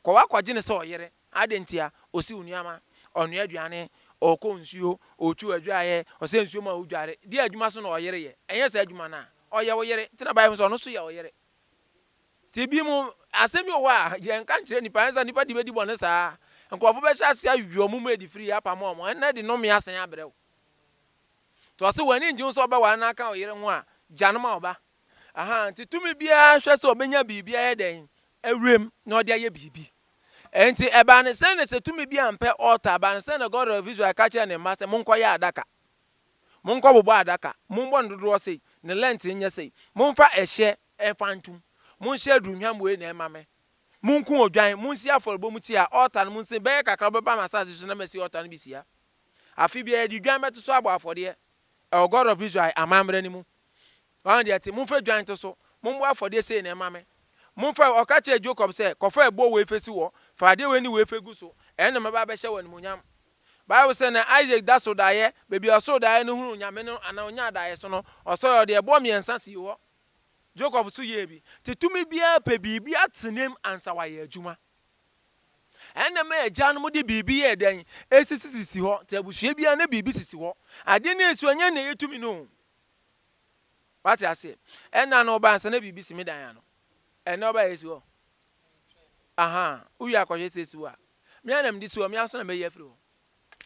Kɔ wa kɔgye no sɛ ɔyere. Adɛn ntia? Ɔsiw nneɛma, ɔnoa aduane, ɔkɔ nsuo, ɔtwiw adwaeɛ, ɔsɛ nsuo ma wodware. Deɛ adwuma so na ɔyere yɛ. Ɛnyɛ saa adwuma no a, ɔyɛ wo yere. Nti na Bible no sɛ ɔno nso yɛ ɔyere. Nti bi mu, asɛm bi wɔ hɔ a, yɛnka nkyerɛ nnipa, ɛnyɛ sɛ nnipa de bɛdi bɔne saa. Nkurɔfo bɛhyɛ ase ayi wɔn mu adi firi apam wɔn, ɛnna de nnome asan abrɛ wo. Nti ɔse w'ani ngye ho sɛ wobɛware na aka wo yere ho a, gya no ma wo ba. Ahaa, nti tumi biara hwɛ sɛ ɔbɛnya biribi ayɛ dɛn? Awuram, na ɔde ayɛ biribi. Enti ɛbaa no sɛn na sɛ tumi bi ampɛ altar, ɛbaa no sɛn na God of Israel ka kyerɛɛ ne mma sɛ, Monkɔyɛ adaka. Monkɔbobɔ adaka. Mommɔ no dodoɔ sei. Ne length nyɛ sei. Momfa ɛhyeɛ mfa ntom. Monhye aduhwam wei na ɛmma me. Monku odwan. Monsi afɔrebɔmukyia, altar no monsi. Bɛyɛ kakra wobɛba m'asase so na masi altar no bi sia. Afe biara yɛde dwan bɛto so abɔ afɔdeɛ. Ɛwɔ God of Israel amammerɛ no mu. Ɔno deɛ te, momfa dwan nto so, mommɔ afɔdeɛ sei na ɛmma me. Momfa, ɔka kyerɛɛ Jacob sɛ, kɔfa ɛboɔ wei fa si hɔ, fa adeɛ wei ne wei fa gu so, ɛno na mɛba abɛhyɛ wo animuonyam. Bible sɛ na Isaac da so daeɛ, baabi a ɔsoo daeɛ no hunuu Onyame no anaa ɔnyaa daeɛso no, ɔsɔre ɔde ɛboɔ mmiɛnsa sii hɔ. Jacob nso yɛɛ bi. Te tumi biara pɛ biribi atenem ansa wayɛ adwuma. Ɛna ma agya no de biribi yɛɛ dɛn? Ɛsisisisi hɔ. Te abusua biara na biribi sisi hɔ. Adeɛ no ɛsi hɔ, ɛnyɛ na ɛyɛ tumi no o. Wate aseɛ? Ɛna no ɔba ansa na biribi si me dan ano. Ɛnɛ ɔba yɛsi hɔ. Aha, wowie akɔhwɛ sɛ si hɔ a. Me a na mede si hɔ, me aso na mɛyi afiri hɔ.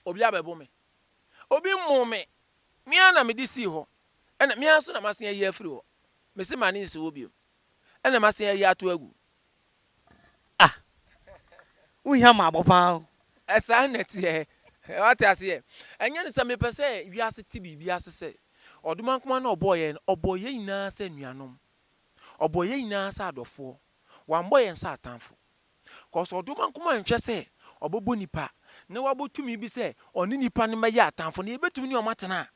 Obi abɛbo me. Obi mmoo me. Me a na mede sii hɔ. Ɛna me aso na masen ayi afiri hɔ. Mese ma ne nsi hɔ bio. Ɛna masen ayi ato agu. Ah! Wo hia maabɔ paa o. Saa na ɛteɛ. Wate aseɛ? Ɛnyɛ ne sɛ mepɛ sɛ wiase te biribi ase sɛ, Ɔdomankoma no a ɔbɔɔ yɛn no, ɔbɔɔ yɛn nyinaa sɛ anuanom. Ɔbɔɔ yɛn nyinaa sɛ adɔfoɔ. Wammɔ yɛn sɛ atamfo. Cause Ɔdomankoma nhwɛ sɛ ɔbɛbɔ nnipa na wabɔ tumi bi sɛ ɔne nnipa no mmɛyɛ atamfo na yɛbɛtumi ne wɔn atena.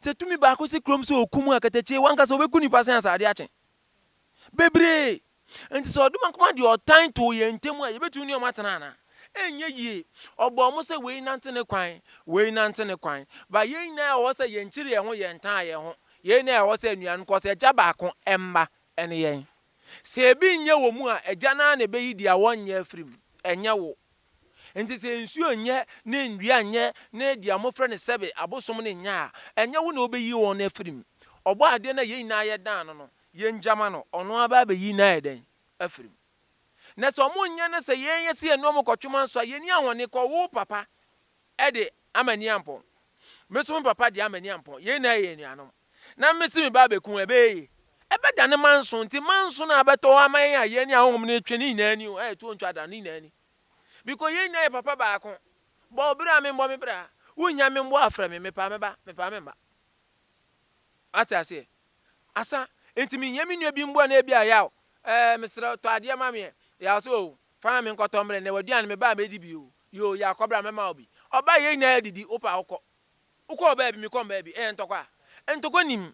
Sɛ tumi baako si kurom sɛ ɔkum a, katakyie, wankasa ɔbɛku nnipa sɛn a sɛ adeɛ akye? Bebree! Enti sɛ ɔdom nko ara de ɔtan too yɛn ntam a, yebetumi ne wɔn atena anaa? Ɛnyɛ yie. Ɔbɔɔ wɔn sɛ wei nante ne kwan, wei nante ne kwan. Ba yɛn nyinaa ɛwɔ hɔ sɛ yɛnkyiri yɛn ho, yɛntaa yɛn ho. Yɛn nyinaa ɛwɔ hɔ sɛ anuanom, because Agya baako, mma, ne yɛn. Sɛ ebi nyɛ wɔ mu a, Agya no ara na ebeyi deɛ wɔnyɛ afiri mu, ɛnyɛ wo. Enti sɛ nsuo nyɛ, ne nnua nyɛ, ne deɛ wɔfrɛ no sɛbe, abosom no nyɛ a, ɛnyɛ wo na wobeyi wɔn afiri mu. Ɔbɔɔ adeɛ no a yɛn nyinaa yɛdan no no. Yɛngya ma no, ɔno ara bɛyi no ayɛ dɛn? Afiri mu. Na sɛ wɔnyɛ no sɛ yɛn yɛ sɛ yɛne wɔn kɔtwema nso a, yɛnni ahɔne kɔ. Wo papa de ama ani ampɔn. Me nso me papa de ama ani ampɔn. Yɛn nyinaa yɛ anuanom. Na mese me ba abɛku wo, ɛbɛyɛ yie? Ɛbɛdane manso. Enti manso no a ɛbɛtɔ hɔ ama yɛn a yɛne ahonhom no retwe ne nyinaa ni o, a ɛtoɔ ntwa da no, ne nyinaa ni. Biko yɛn nyinaa yɛ papa baako. Bɔ wo bra, membɔ me bra. Wonnya me mmoa a, frɛ me. Mepaa me ba, mepaa me mma. Woate aseɛ? Asa, Enti menhia me nua bi mboa na ebi a yaw? Ɛɛ, meserɛ wo, tɔ adeɛ ma me ɛ. Yaw sɛ, Oo, fa ma me nkɔtɔ mbrɛ, nɛ w'aduane mebaa mɛdi bi oo. Yoo, yaw kɔ bra mɛma wo bi. Ɔbaa yɛn nyinaa yɛdidi, wopɛ a wokɔ. Wokɔɔ baabi, mekɔ mbaabi, ɛyɛ ntɔkwa a? Ntɔkwa nnim.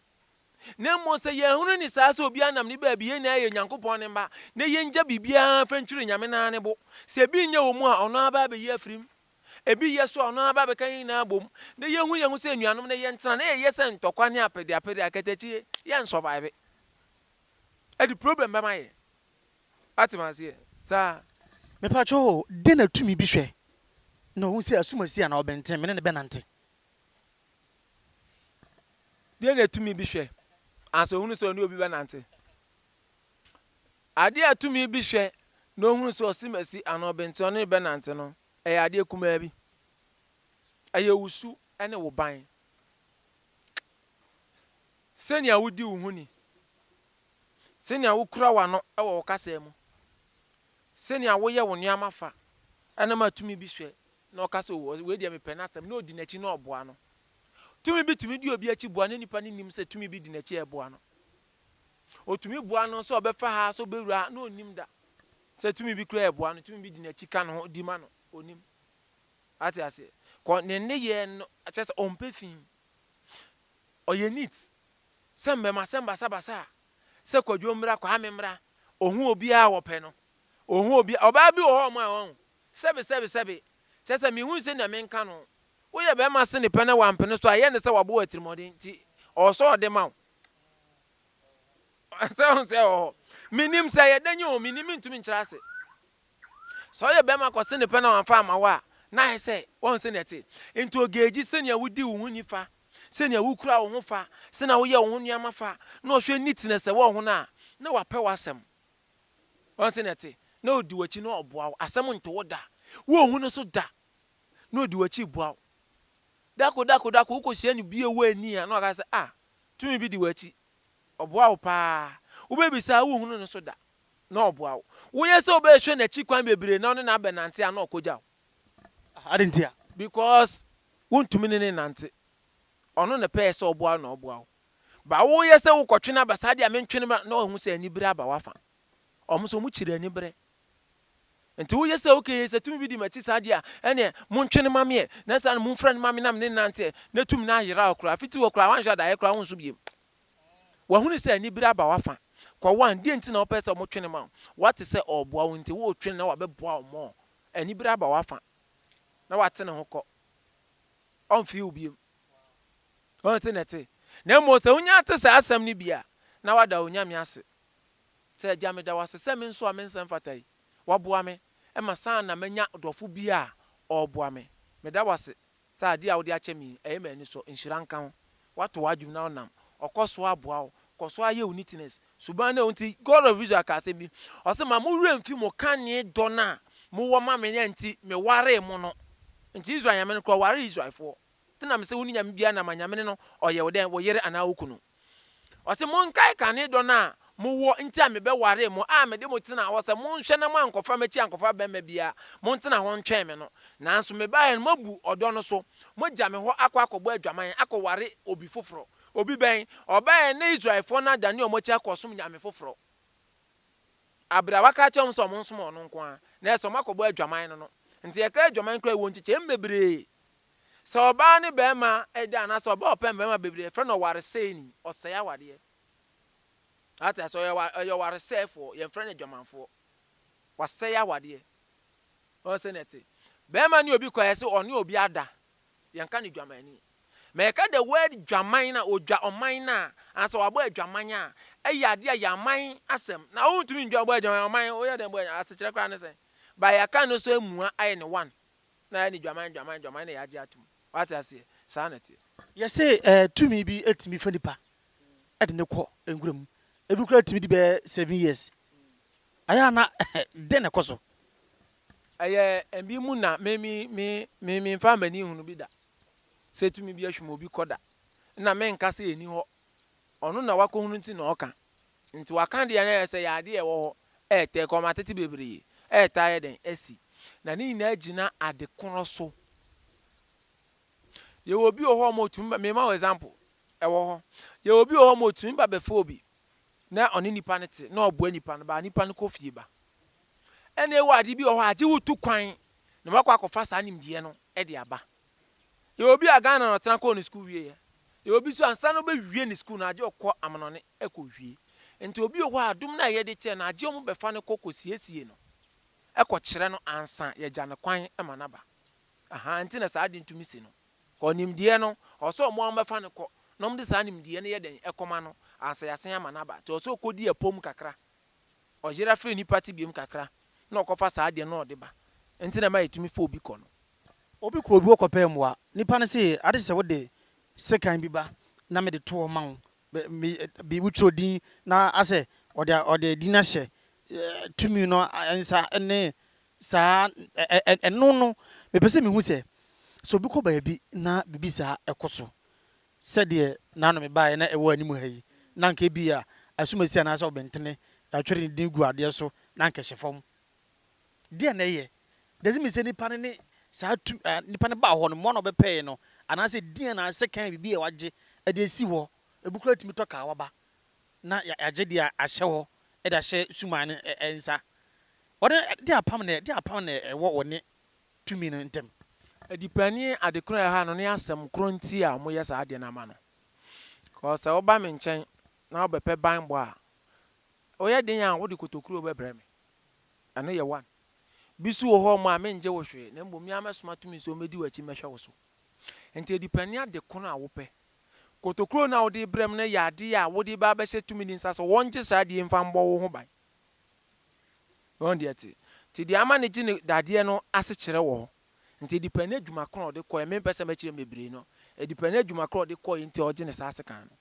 Na mmom sɛ yɛahunu ne saa sɛ obiara nam ne baabi, yɛn nyinaa yɛ Nyankopɔn ne mma, na yɛngya biribiara mfa ntwiri Nyame no ara ne bo. Sɛ bi nnyɛ wɔ mu a, ɔno ara bɛa bɛyi afiri mu. Ebi yɛ so a ɔno ara bɛbɛka yɛn nyinaa abom, na yɛahu yɛn ho sɛ anuanom na yɛntena, na yɛyɛ sɛ ntɔkwa ne apɛdeapɛde, akatakyie, yɛnsurvive. Ɛde problem bɛma yɛn. Woate me aseɛ? Saa. Mepakyɛ o, dɛn na tumi bi hwɛ na ɔhu sɛ ɛso masi anaa ɔbɛnten, me ne no bɛnante? Dɛn na tumi bi hwɛ ansa ɔhunu sɛ ɔne obi bɛnante? Adeɛ a tumi bi hwɛ na ɔhunu sɛ ɔsemasi anaa ɔbenteɔ no rebɛnante no, ɛyɛ adeɛ kumaa bi. Ɛyɛ wo su ne wo ban. Sɛnea wodi wo ho ni, sɛnea wokura w'ano wɔ wo kasa mu, sɛnea woyɛ wo nneɛma fa, ɛna ɛma tumi bi hwɛ na ɔka sɛ, oh, wei deɛ mepɛ n'asɛm, na ɔdi n'akyi na ɔboa no. Tumi bi tumi di obi akyi boa na nipa no nnim sɛ tumi bi di n'akyi reboa no. Otumi boa no sɛ ɔbɛfa ha, sɛ obewura ha, na onnim da. Sɛ tumi bi koraa reboa no, tumi bi di n'akyi ka ne ho di ma no, onnim. Wate aseɛ? Kɔ ne nneyɛɛ no, kyerɛ sɛ ɔmpɛ fi. Ɔyɛ neat. Sɛ mmɛmasɛm basabasa a, sɛ Kwadwo mmra, Kwame mmra, ohu obiara a ɔpɛ no. Ohu obiara. Ɔbaa bi wɔ hɔ a ɔmaa wɔn, sɛbe, sɛbe, sɛbe. Kyerɛ sɛ menhui sɛnea menka no. Woyɛ barima sene pɛ na wampene so a, ɛyɛ ne sɛ wabɔ wo atirimmɔden, nti ɔwɔ sɛ ɔde ma wo. sɛ ɔhu sɛ ɛwɔ hɔ menim sɛ yɛ dɛn o menim mentumi nkyerɛ ase sɛ ɔyɛ bɛrima kɔse ne pɛ na wamfa ama wo a na ayɛ sɛ wɔn sɛ nɛte nti ogeegyi sɛnea wodi wo ho ni fa sɛnea wokura wo ho fa sɛnea woyɛ wo ho nneɛma fa na ɔhwɛ ni tena sɛ wɔ ho no a na wapɛ w'asɛm wɔn sɛ nɛte na odi w'akyi na ɔboa wo asɛm nto wo da wohu no so da na odi w'akyi boa wo Dako, dako, dako, wokohyia no bio wɔ ani a na waka sɛ, ah, tumi bi di w'akyi. Ɔboa wo paa. Wobɛbisa a wonhunu no so da, na ɔboa wo. Woyɛ sɛ wobɛhwɛ n'akyi kwan bebree na wo ne no abɛnante a na ɔkɔgya wo. Ah, adɛn ntia? Because wontumi ne no nnante. Ɔno na ɛpɛɛ sɛ ɔboa wo na ɔboa wo. But woyɛ sɛ wokɔtwe no aba saa deɛ a mentwe no mmra na wahu sɛ anibere aba w'afa. Wɔn nso wɔkyiri anibere. Enti woyɛ sɛ ok sɛ tumi bi di m'akyi saa deɛ a, ɛneɛ montwe no ma me ɛ, na saa no momfrɛ no ma me na mene no nnante ɛ, na tumi no ayera wo koraa, fiti hɔ koraa woanhwɛ a daeɛ koraa wonso biom. Wahunu sɛ anibere aba w'afa. Kɔwan, deɛ nti na wopɛ sɛ wɔtwe no ma wo? Woate sɛ ɔreboa wo nti woretwe no na wabɛboa wo more. Anibere aba w'afa, na wate ne ho kɔ. Ɔmfee wo biom. Ɔnte na ɛte. Na mmom sɛ wonya te saa asɛm no bi a, na wada wo Nyame ase. Sɛ Agya meda wo ase sɛ me nso a me nsa mfata yi, woaboa me ma saa na manya dɔfo bi a ɔreboa me. Meda wo ase sɛ adeɛ a wode akyɛ me yi, ɛyɛ me anisɔ. Nhyira nka wo. Woato w'adwene na wonam hɔ kɔ so ara boa wo. Kɔ so ara yɛ wo neatness suban no. Ɛno nti God of Israel kaa asɛm bi, ɔse, Ma mo werɛ mfi mo kane dɔ no a mowɔ ma me no a nti mewaree mo no. Nti Israel Nyame no koraa ɔwaree Israelfoɔ. Te nam sɛ wonni nyame biara nam a nyame no no ɔyɛ wo dɛn wo yere anaa wo kunu. Ɔse monkae kane dɔ no a mo wɔ nti a me bɛ waree mo a me de mo tenaa hɔ sɛ monhwɛ na mo ankɔfa m'akyi ankɔfa bɛmma biara montena hɔ ntwɛn me no nanso me baeɛ no moabu ɔdɔ no so mo gya me hɔ akɔ akɔbɔ adwaman akɔ ware obi foforɔ obi bɛn ɔbaeɛ na Israelfoɔ no adane ɔmo akyi akɔ som nyame foforɔ aberɛ a waka akyerɛ ɔmo sɛ ɔmo nsom ɔno nko ara na ɛsɛ ɔmo akɔbɔ adwaman no no nti ɛka adwaman koraa ɛwɔ nkyekyɛm bebree Sɛ ɔbaa ne barima da anaasɛ ɔbaa ɔpɛ mmarima bebree a, yɛfrɛ no ɔwaresɛeni, ɔsɛe awadeɛ. Ate ase? Ɔyɛ wa- ɔyɛ ɔwaresɛefoɔ, yɛmfrɛ no adwamanfoɔ. Wasɛe awadeɛ. Ɔn sɛ na ɛte. Barima ne obi kɔ a, yɛse ɔne obi ada. Yɛnka no dwamanni. Ma yɛka the word dwaman no a, ɔdwa ɔman no a, anaasɛ wabɔ adwaman a, ɛyɛ adeɛ a yɛ aman asɛm. Na wontumi ndwa bɔ adwaman, ɔman, woyɛ dɛn bɔ adwaman? Asekyerɛ koraa ne sɛn? But yɛaka no so amua ayɛ no one. Na ɛne dwaman dwaman dwaman na yɛagye atom. Wate aseɛ? Saa na ɛteɛ. Yɛse ɛɛ tumi bi tumi fa nipa de no kɔ nwura mu. Ebi koraa tumi di bɛyɛ seven years. Ayɛ a na dɛn na ɛkɔ so? Ɛyɛ ɛbi mu na me me me me menfaa m'ani nhunu bi da sɛ tumi bi ahwim obi kɔ da. Nna menka sɛ ɛni hɔ. Ɔno na wakɔhunu nti na ɔka. Nti waka deɛ na ɛsɛ yɛ adeɛ ɛwɔ hɔ ɛɛtɛɛ kɔma atete bebree ɛɛtaa yɛ dɛn asi na ne nyinaa gyina ade korɔ so yɛwɔ obi wɔ hɔ ɔma ɔtumi ba mema wo example ɛwɔ hɔ yɛwɔ obi wɔ hɔ ɔma ɔtumi ba bɛfa obi na ɔne nipa no te na ɔboa nipa no baa nipa no kɔ fie ba ɛna ɛwɔ adeɛ bi wɔ hɔ agye wo tu kwan na wakɔ akɔfa saa nimdeɛ no ɛde aba. Yɛwɔ obi a Ghana na ɔtena kɔɔ ne sukuu wieɛ. Yɛwɔ obi nso ansa na ɔbɛwie ne sukuu no agye ɔkɔ amanɔne ɛkɔwie. Nti obi wɔ hɔ a adom no a yɛde kyɛɛ no agye wɔn bɛfa no kɔ kɔsiesie no kɔkyerɛ no ansa yɛgya no kwan ma no aba. Ahaa nti na saa adeɛ no tumi si no. Kɔɔ nimdeɛ no ɔwɔ sɛ wɔn a wɔbɛfa no kɔ na wɔde saa nimdeɛ no yɛ dɛn ɛkɔma no ansa yɛasan ama no aba. Nti ɔwɔ sɛ ɔkɔdi apom kakra. Ɔyera firi nnipa te biom kakra na ɔkɔfa saa adeɛ no na ɔde ba nti na ɛma yɛtumi fa obi kɔ no. Obi kɔ obi hɔ kɔpɛɛ mmoa. Nipa no se ade kye sɛ wode sekan bi ba na mede to hɔ ma wo bi wo twerɛ din na asɛ ɔde ɔde din ahyɛ tumi no nsa ne saa ɛno no mepɛ sɛ mehu sɛ sɛ obi kɔ baabi na biribi saa ɛkɔ so Sɛdeɛ na ano mebaeɛ na ɛwɔ anim ha yi, na anka ebia asumasi anaasɛ ɔbentene, yɛatwerɛ ne din agu adeɛ so, na anka ɛhyɛ fam. Deɛn na ɛyɛ? Does it mean sɛ nipa no ne saa tu, ah, nipa no baa hɔ no, mmoa na ɔbɛpɛɛe no, anaasɛ din anaasɛ kan biribi a wɔagye de asi hɔ? Ebi koraa tumi tɔ kaa waba, na yɛ, yɛagye deɛ ahyɛ hɔ de ahyɛ suman no ɛ, ɛ, nsa. Wɔde deɛ apam na, deɛ apam na ɛwɔ wɔ ne tumi no ntam. Adipani adekoro a ɛha no ne asɛm koro nti a wɔyɛ saa adeɛ no ama no. Because sɛ woba me nkyɛn na wobɛpɛ banbɔ a, woyɛ den a wode kotokuro bɛbrɛ me. Ɛno yɛ one. Bi nso wɔ hɔ a mengye wo hwee na mmom me ara mɛsoma tumi sɛ wɔmmɛdi w'akyi mmɛhwɛ wo so. Nti adipani adekono a wopɛ. Kotokuro no a wode rebrɛ me no yɛ adeɛ a wode reba abɛhyɛ tumi no nsa sɛ wɔngye saa adeɛ yi mfa mmɔ wo ho ban. Wɔn deɛ te. Nti deɛ ama no gye ne dadeɛ no asekyerɛ wɔ hɔ. Nti ɛdepɛn n'adwuma korɔ a ɔde kɔeɛ. Me mpɛ sɛ mɛkyerɛ mu bebree no. Ɛdepɛn n'adwuma korɔ a ɔde kɔeɛ nti a ɔgye ne saa asekan no.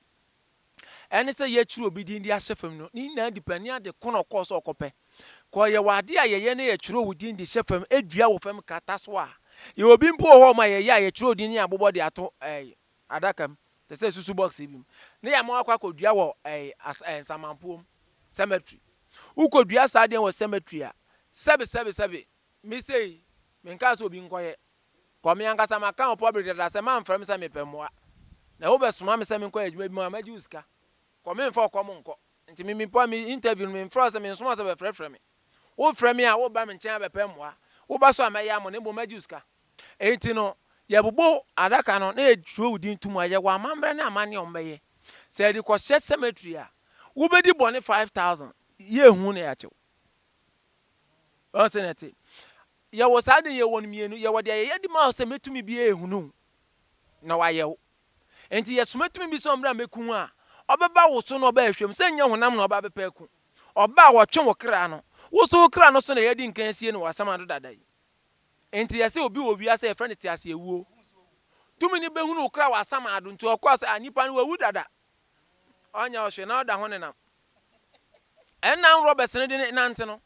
Ɛne sɛ yɛkyerɛ obi din de ahyɛ fam no, ne nyinaa depɛn ne ade korɔ na ɔkɔɔ sɛ ɔrekɔpɛ. Kɔ yɛwɔ adeɛ a yɛyɛ na yɛkyerɛ wo din de hyɛ fam, dua wɔ fam, kata so a. Yɛwɔ bi mpo wɔ hɔ a yɛyɛ a yɛkyerɛ wo din na yɛabobɔ de ato ɛɛ. adaka mu, te sɛ susu bɔks bi mu, na yɛama wakɔ akɔdua wɔ ɛɛ as ɛɛ nsamanpoɔ mu, cemetery. Wokɔdua saa adeɛ wɔ cemetery a, sɛbe sɛbe sɛbe. Me sei, menkaa sɛ obi nkɔyɛ. Kɔ me ankasa maka wɔ public dada sɛ mamfrɛ me sɛ mepɛ mmoa. Na wobɛsoma me sɛ menkɔyɛ adwuma bi ma wo a, mɛgye wo sika. Kɔ memfa wo kɔm nkɔ. Nti me me pua me interview no, memfrɛ wo sɛ mensoma wo sɛ bɛfrɛfrɛ me. Wofrɛ me a, woreba me nkyɛn abɛpɛ mmoa. Woba so a, mɛyɛ amɔ na mmom mɛgye wo sika. Enti no, yɛbobɔ adaka no na yɛkyerɛw wo din to mu a, yɛwɔ amammerɛ ne amanneɛ a wɔbɛyɛ. Sɛ yɛde kɔhyɛ cemetery a, wobedi bɔne five thousand, yenhu wo na yɛakye wo. Ɔn sɛ na ɛte. Yɛwɔ saa ade no, yɛwɔ no mmienu. Yɛwɔ deɛ yɛyɛ de ma wo sɛ mɛtumi bi ahunu wo na wayɛ wo. Enti yɛsoma tumi bi sɛ ɔmmra mmɛku wo a, ɔbɛba wo so na ɔba ahwɛ mu. Sɛ nyɛ honam na ɔba abɛpɛ aku. Ɔba a, ɔtwe wo kra no. Wo nso wo kra no so na yɛadi nkan asie no wɔ asamando dada yi. Enti yɛse obi wɔ wiase a yɛfrɛ no teaseawuo. Tumi no bɛhunu wo kra wɔ asamaado nti ɔkɔɔ sɛ a nipa no wawu dada. Ɔnyɛ wo hwee na ɔda ho nenam. Ɛnna nworɔ bɛsene de nante no.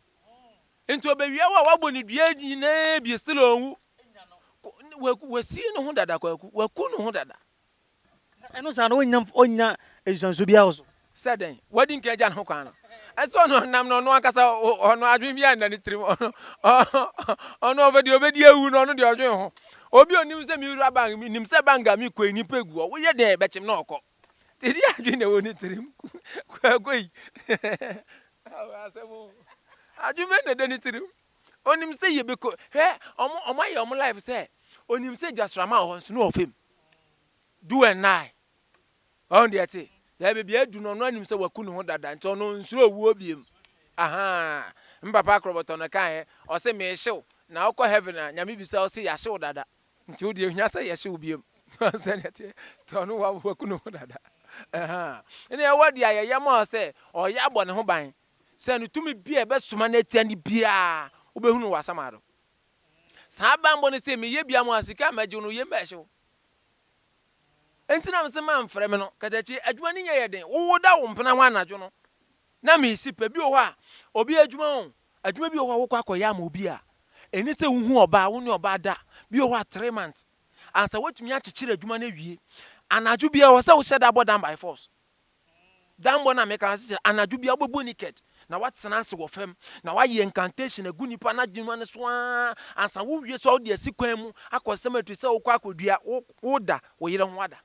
Enti ɔbɛwia wo a wabɔ ne dua nyinaa bi still ɔnwu. Kwaku, wasie ne ho dada kwaku, waku ne ho dada. Na ɛno saa no, ɔrennya mf ɔrennya nhyɛnso biara wɔ so. Sɛ dɛn? Wadi nka agya no ho kwan no. Ɛsɛ ɔno nam no ɔno ankasa o, ɔno adwene biara nna ne tirim. Ɔno, ɔno ɔpɛ deɛ ɔbɛdi awu no, ɔno deɛ ɔdwen ho. Obi a ɔnim sɛ mewura bank, menim sɛ bank a mekɔ yi nnipa gu hɔ, woyɛ dɛn bɛkyem na ɔkɔ. Nti deɛ adwene na ɛwɔ ne tirim. Kwaako yi. Ao asɛm o. Adwene bɛn na ɛda ne tirim? Ɔnim sɛ yɛbɛkɔ, hwɛ, wɔn, wɔayɛ wɔn life sɛ, ɔnim sɛ gyasramma wɔ hɔ nso na ɔfa mu. do and nine. Wahu deɛ ɛte? Yɛ baabi a adu no ɔno anim sɛ waku ne ho dada nti ɔno nsuro owuo biom. Ahaa. Me papa akorɔbɔtɔ no kaeɛ, ɔse meehye wo na wokɔ heaven a Nyame bisa wo se yɛahye wo dada nti wo deɛ ohia sɛ yɛhye wo biom. Wahu sɛdeɛ ɛteɛ? Nti ɔno waku ne ho dada. Ahaa. Ɛna yɛwɔ deɛ a yɛyɛ ma ɔsɛ ɔyɛ abɔ ne ho ban sɛ no tumi bi a ɛbɛsoma no atia no biara wobɛhunu wɔ asamado. Saa banbɔ no se meyɛ bia mo a sika a mɛgyew no yem bɛhyew. Enti na mese mamfrɛ me no. Katakyi, adwuma no nyɛ yɛ den. Wowoda wo mpena hɔ anadwo no na mesi pɛ. Bi wɔ hɔ a, obi adwuma o, adwuma bi wɔ hɔ a wokɔ akɔyɛ ama obi a, ɛne sɛ wohu ɔbaa, wo ne ɔbaa da. Bi wɔ hɔ a three months ansa woatumi akyekyere adwuma no awie. Anadwo biara ɛwɔ sɛ wohyɛ da bɔ dan by force. Dambɔ no a meka no ase sɛ anadwo bia wobɛbɔ naked na woatena ase wɔ fam na woayɛ incantation agu nipa no adwuma no so aa ansa wowie so a wode asi kwan mu akɔ cemetery sɛ wokɔ akɔdua woda wo yere ho ada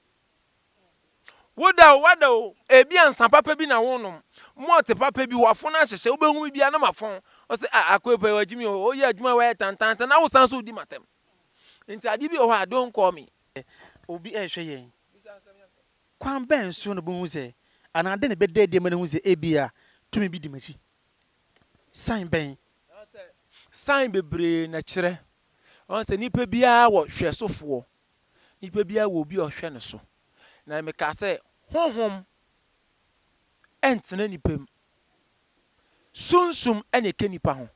woda o wada o ebi ansa papa bi na wonom malt papa bi wafo no ahyehyɛ wobɛhu bi bia na mafɔn ɔsɛ a akoepa wagye mi o woyɛ adwuma wayɛ tantantan na wosan so wodi matam nti ade bi wɔ hɔ a don't call me obi ɛnhwɛ yɛn Ɔkwan bɛn so na obehu sɛ anaa dɛn na ɛbɛda adi ama wahu sɛ ebia tumi bi di m'akyi? Sign bɛn? Anaasɛ sign bebree na ɛkyerɛ. Ɔn sɛ nipa biara wɔ hwɛsofoɔ. Nipa biara wɔ obi a ɔhwɛ no so. Na mekaa sɛ honhom ntena nipa mu. Sunsum na ɛka nipa ho.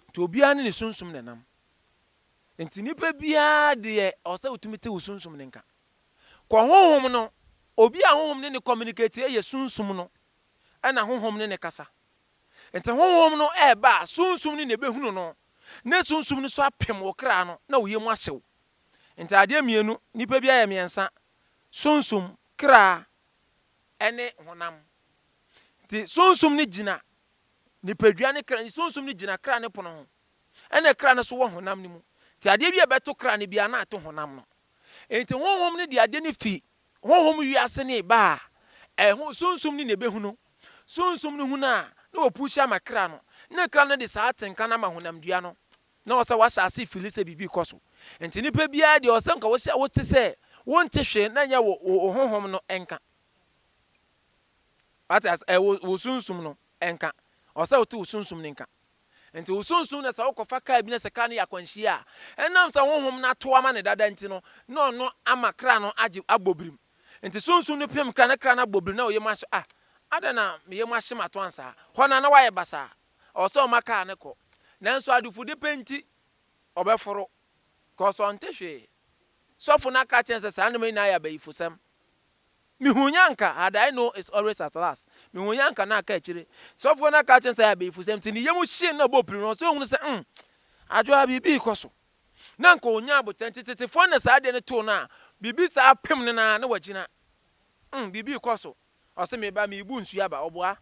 Nti obiara ne ne sunsum na ɛnam. Nti nipa biara deɛ ɔsɛ wotumi te wo sunsum no nka. Kɔ honhom no, obi a honhom ne no communicate yɛ sunsum no na honhom ne no kasa. Nti honhom no ɛɛba a sunsum no na ɛbɛhunu no na sunsum no so apem wo kra no na wo yam ahye wo. Nti adeɛ mmienu, nipa biara yɛ mmiɛnsa, sunsum, kra ɛne honam. Nti sunsum no gyina nipadua ne kra, sunsum no gyina kra ne pono ho ɛna kra no so wɔ honam no mu. Nti adeɛ bi a ɛbɛto kra no biara na ato honam no. Enti Honhom no de ade no fi honhom wiase ne ba a ɛho Sunsum no na ɛbɛhunu. Sunsum no hunu a, na wɔpuusi ama kra no, ne kra no de saa atenka no ama honamdua no. Na ɔsɛ wɔahyɛ ase fili sɛ biribi rekɔ so. Enti nnipa biara deɛ ɔsɛ nka wɔhyɛ wote sɛ wonte hwee na ɛnyɛ wo wo honhom no nka. Wate ase? Ɛ wo wo sunsum no nka. Ɔsɛ wote wo sunsum no nka. Enti wo sunsum na sɛ wokɔfa kar bi na sɛ kar no yɛ akwanhyia a, ɛnam sɛ honhom no ato ama no dada nti no, na ɔno ama kra no agye abɔ birim. Enti sunsum no pem kra na kra no abɔ birim na wo yam ahye ah, adɛn na me yam ahye me ato ansa? Hɔ no ara na wayɛ basaa. Ɛwɔ sɛ ɔma kar no kɔ. Nanso adufudepɛ pɛ nti, ɔbɛforo. Cause ɔnte hwee. Sɔfo no aka akyerɛ no sɛ saa nneɛma yi nyinaa yɛ abayifosɛm. Mehuny'anka had I know it's always at last Mehuny'anka na aka akyire Sɔfoɔ no aka akyerɛ no sɛ ayɛ bayifusɛm nti ne yam hyee no na ɔbɔɔ piri no ɔsɛ ɔhunu sɛ umm Adwoa ha biribi rekɔ so na anka ɔnyaa aboterɛ nti tetefoɔ no na saa adeɛ no too no a biribi saa apem no na na wagyina umm biribi rekɔ so ɔse me ba merebu nsuo aba ɔboa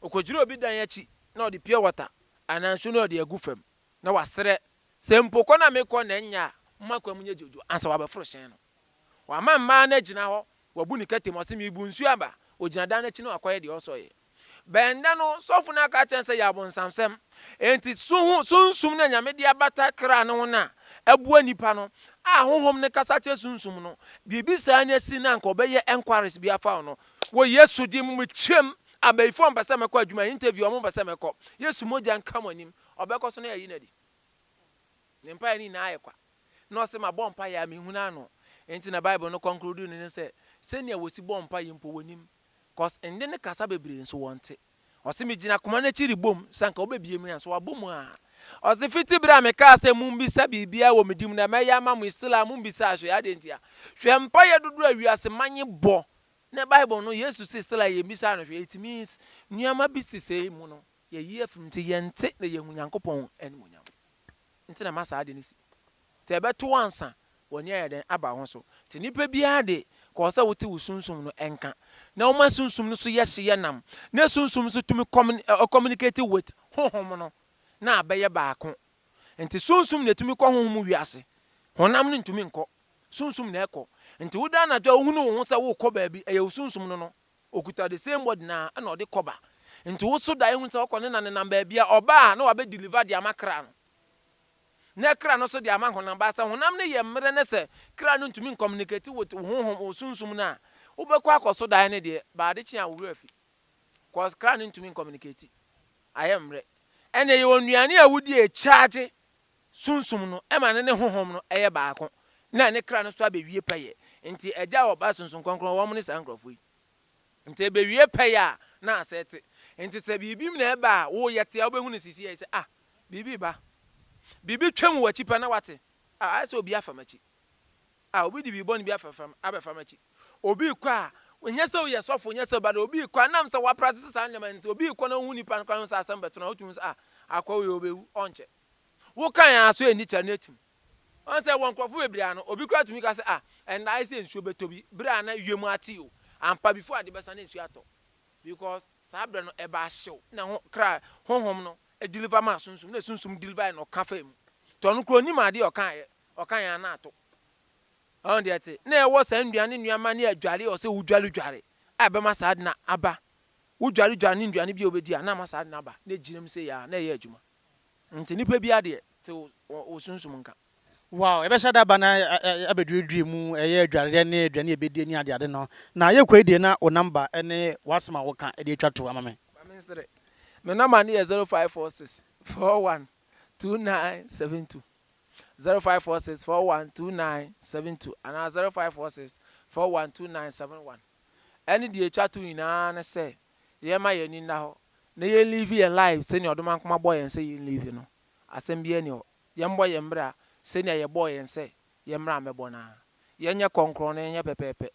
ɔkɔgyina obi dan akyi na ɔde pure water anaa nsuo no ɔde agu fam na wasrɛ sɛ mpo kɔ no a mekɔ na ɛnyɛ a momma kwan mu nyɛ dwodwo ansa wabɛforo hyɛn no. Wama mmaa no agyina hɔ, wabu ne kɛtɛ mu, ɔse merebu nsuo aba. Ogyina dan no akyi na wakɔyɛ deɛ ɔsɔ yɛ. Bɛn da no, sɔfo no aka akyerɛ no sɛ yɛ abonsamsɛm. Enti so ho sunsum no a Nyame de abata kra no ho no a ɛboa nipa no, a honhom no kasa kyerɛ sunsum no, biribi saa no asi na anka ɔbɛyɛ enquiries bi afa wo no. Wɔ Yesu din mu metwam, abayifo a ɔmpɛ sɛ mɛkɔ adwuma, interview a ɔmo mpɛ sɛ mɛkɔ, Yesu mogya nka mo anim, ɔbɛkɔ so na yɛayi no adi. Ne mpaeɛ no nyinaa ayɛ kwa. na ɔse mabɔ mpaeɛ a menhunu ano nti na bible no conclude no ne sɛ sɛnea wɔsi bɔ mpaeɛ mpo wɔnim cause nne ne kasa bebree nso wɔnte ɔse megyina koma no akyi rebom sɛ anka wobɛbie mu nanso wabɔ mu a ɔse fiti berɛ a mekaa sɛ mommisa biribiara wɔ me din mu na mɛyɛ ama mo still a mombisaa hwee adɛn ntia hwɛ mpaeɛ dodoɔ a wiase man bɔ ne bible no yesu se still a yɛmmisaa no hwee it means nneɛma bi sisɛi mu no yɛyi afim nti yɛnte na yɛnhu Nyankopɔn animuonyam. Nti na ama saa ade no si. Nti ɛbɛto wo ansa w'ani ayɛ dɛn aba wo ho so. Nti nipa biara de, kɔ sɛ wote wo sunsum no nka, na woma sunsum no so yɛ hye yɛ nam, na sunsum nso tumi kɔmin, communicate with, honhom no, na abɛyɛ baako. Nti sunsum na ɛtumi kɔ honhom mu wiase. Honam no ntumi nkɔ. Sunsum na ɛkɔ. Nti woda anadwo a wohunu wo ho sɛ worekɔ baabi, ɛyɛ wo sunsum no no. Okuta the same body no ara na ɔde kɔba nti wo so dae hu sɛ ɔkɔ ne na nenam baabi a ɔba a na wabɛ deliver de ama kra no na kra no so de ama honam but sɛ honam no yɛ mmerɛ na sɛ kra no ntumi ncommunicate with wo honhom wo sunsum no a wo bɛ kɔ akɔ so dae no deɛ ba ade kye a wo werɛ afi cause kra no ntumi ncommunicate ayɛ mmerɛ ɛna ɛyɛ onuane a wo di ɛkyagye Sunsum no ma no ne honhom no yɛ baako na ne kra no so abewie pɛyɛ. Ntsi Egya a Ɔba Sunsum Krɔnkrɔn wɔn ne saa nkorɔfo yi. Ntsi ebewie pɛyɛ a na asɛɛ tse. Ntsi sɛ biribi mu na ɛba a woyɛ tse a wobɛhu no sisiei sɛ ah biribi reba. Biribi twam w'akyi pɛ na woatse ah ayɛ sɛ obi afa m'akyi. Ah obi de biribi bɔne bi afɛfa me abɛfa m'akyi. Obi rekɔ a nyɛ sɛ woyɛ sɔfo nyɛ sɛ but obi rekɔ a nam sɛ woapratise saa nneɛma no ntsi obi rekɔ na wohu nipa no koraa hu sɛ asɛm bɛto no a wotumi hu sɛ ah akoa wei ɔbɛwu ɔnkyɛ. Wo kan ara so ɛnni kyɛre no atim. Wahu sɛ wɔ nkurɔfo bebree ano, obi koraa tumi ka sɛ, Ah, ɛnna ayɛ sɛ nsuo bɛtɔ bi, berɛ a na wiem ate o. Ampa, before ade bɛsa na nsuo atɔ. Because saa berɛ no ɛbaa hyew na ho, kra, honhom no deliver maa sunsum, na sunsum deliver na ɔka faa mu. Nti ɔno koraa ɔnnim adeɛ a ɔkaeɛ, ɔkaeɛ ara na ato. Wahu deɛ ɛte? Na ɛwɔ saa nnuane nneɛma ne adware a ɔsɛ wodwaredware a ɛbɛma saa ade no aba. Wodwaredware ne nnuane bi a wobɛdi a na ama saa ade no aba, na ɛgyinam sei ara, na ɛyɛ adwuma. Nti nipa biara deɛ te wo wo sunsum nka. Wow yɛbɛhyɛ da aba na abɛduadua mu ɛyɛ adwareɛ ne aduane a yɛbɛdie ne adeade no na yɛkɔ yi deɛ na wo number ne w'asɛm a woka de atwa to ama me. Ma me nsere me number no yɛ zero five four six four one two nine seven two zero five four six four one two nine seven two anaa zero five four six four one two nine seven one ɛne deɛ atwa to nyinaa ne sɛ yɛmma yɛn ani nna hɔ na yɛn live yɛn life sɛnea ɔdomankoma bɔɔ yɛn sɛ yɛn live no, asɛm biara nni hɔ. Yɛn bɔ yɛn bra sɛnea yɛ bɔɔ yɛn sɛ yɛn bra mmɛbɔ no ara. Yɛn nyɛ kɔnkrɔn na yɛn nyɛ pɛpɛɛpɛ.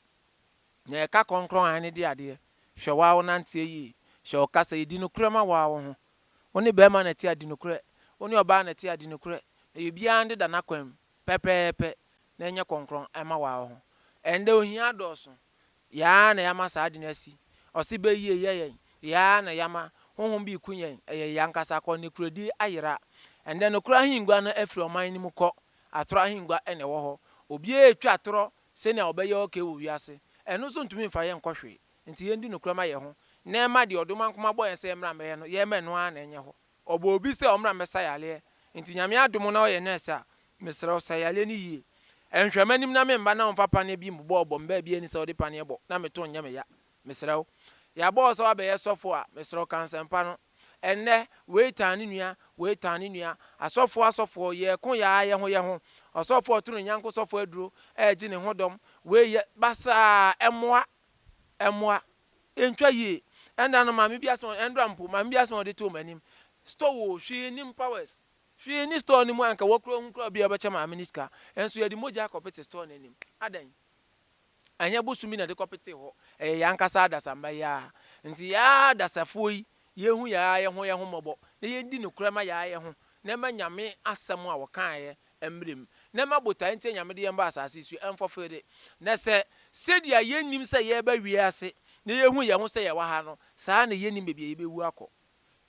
Na yɛ ka kɔnkrɔn hann ne de adeɛ. Hwɛ waa wo nanteɛ yie. Hwɛ wo kasa yie. Di nokorɛ ma waa wo ho. Wo ne barima na ɛte a di nokorɛ. Wo ne ɔbaa na ɛte a di nokorɛ. Na yɛ obiara nde da n'akwan mu pɛpɛɛpɛ na yɛn nyɛ kɔnkrɔn ɛma waa wo ho. Ɛndɛ ohia adɔɔso. Yɛ ara na yɛama saa ade no asi. Ɔse bɛyie yɛ yɛn. Yɛ ara na yɛama honhom bi reku yɛn. Ɛyɛ yɛn ankasa akɔnnɛkuradi ayera. Ɛnnɛ nokorɛ ahengua no afiri ɔman no mu kɔ. Atorɔ ahengua na ɛwɔ hɔ. Obiara retwa atorɔ sɛnea ɔbɛyɛ okay wɔ wiase. Ɛno nso ntumi mfa yɛn nkɔ hwee. Nti yɛndi nokorɛ ma yɛn ho na yɛma deɛ ɔdomankoma bɔ yɛn sɛ yɛmmra mmɛyɛ no, yɛmma ɛno ara na ɛnyɛ hɔ. Ɔbɔ obi sɛ ɔmmra mmɛsa yareɛ, nti Nyame adom na woyɛ nurse a, mesrɛ wo sa yareɛ no yie. Nhwɛ m'anim na me mma na ɔmfa paneɛ bi mmobɔ ɔbɔ me baabi ani sɛ wode paneɛ bɔ na me to nyɛ me ya. Mesrɛ wo. Yɛabɔ wo sɛ woabɛyɛ sɔfo a, mesrɛ wo ka nsɛmpa no. Ɛnnɛ, wei tan ne nua, wei tan ne nua. Asɔfoɔ asɔfoɔ, yɛreko yɛ ara yɛ ho yɛ ho. Ɔsɔfo a ɔto ne nyɛnko sɔfo aduro, ɛregye ne ho dɔm. Wei yɛ basaa, ɛmmoa, ɛmmoa. Ɛntwa yie. Ɛnda no maame bi asɛm, ɛnda mpo, maame bi asɛm a ɔde too m'anim, Store o, hwee nni mu, Powers, hwee nni store no mu a anka wɔ koraa ɔhu koraa obi a ɔbɛkyɛ maame no sika, nso yɛde mogya akɔpete store no anim. Adɛn? Ɛnyɛ bosom bi na yɛde kɔpetee hɔ, ɛyɛ yɛn ankasa adasamba yi ara. Nti yɛn ara adasafoɔ yi, yɛnhu yɛn ara yɛn ho yɛn ho mmɔbɔ, na yɛndi nokorɛ ma yɛn ara yɛn ho, na ɛma Nyame asɛm a wɔkaeɛ mmerɛ mu, na ɛma botaeɛ nti Nyame de yɛn baa asaase so yi, ɛmfɔfee de, na sɛ sɛdeɛ yɛnnim sɛ yɛreba wiase na yɛhu yɛn ho sɛ yɛwɔ ha no, saa ara na yɛnnim baabi a yɛbɛwu akɔ.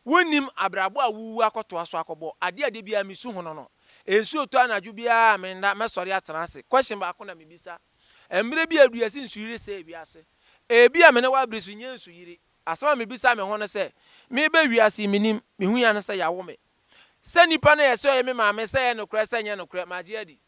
Wonnim abrabɔ a wowuwu akɔtoa so akɔbɔ. Adeɛ a da biara mesu ho no no, nsuo tɔ anadwo biara a menna mɛsɔre atena ase. Question baako na mebisa, mmerɛ bi aduru yɛse nsuyiri sɛɛ wiase. Ebia me ne wo abere so nyɛ nsuyiri. Asɛm a mebisa me ho ne sɛ, meba wiase yi, mennim, mehu yɛ ane sɛ yɛawo me. Sɛ nipa no yɛ sɛ ɔyɛ me maame sɛ ɛyɛ nokorɛ sɛ ɛnyɛ nokorɛ magye adi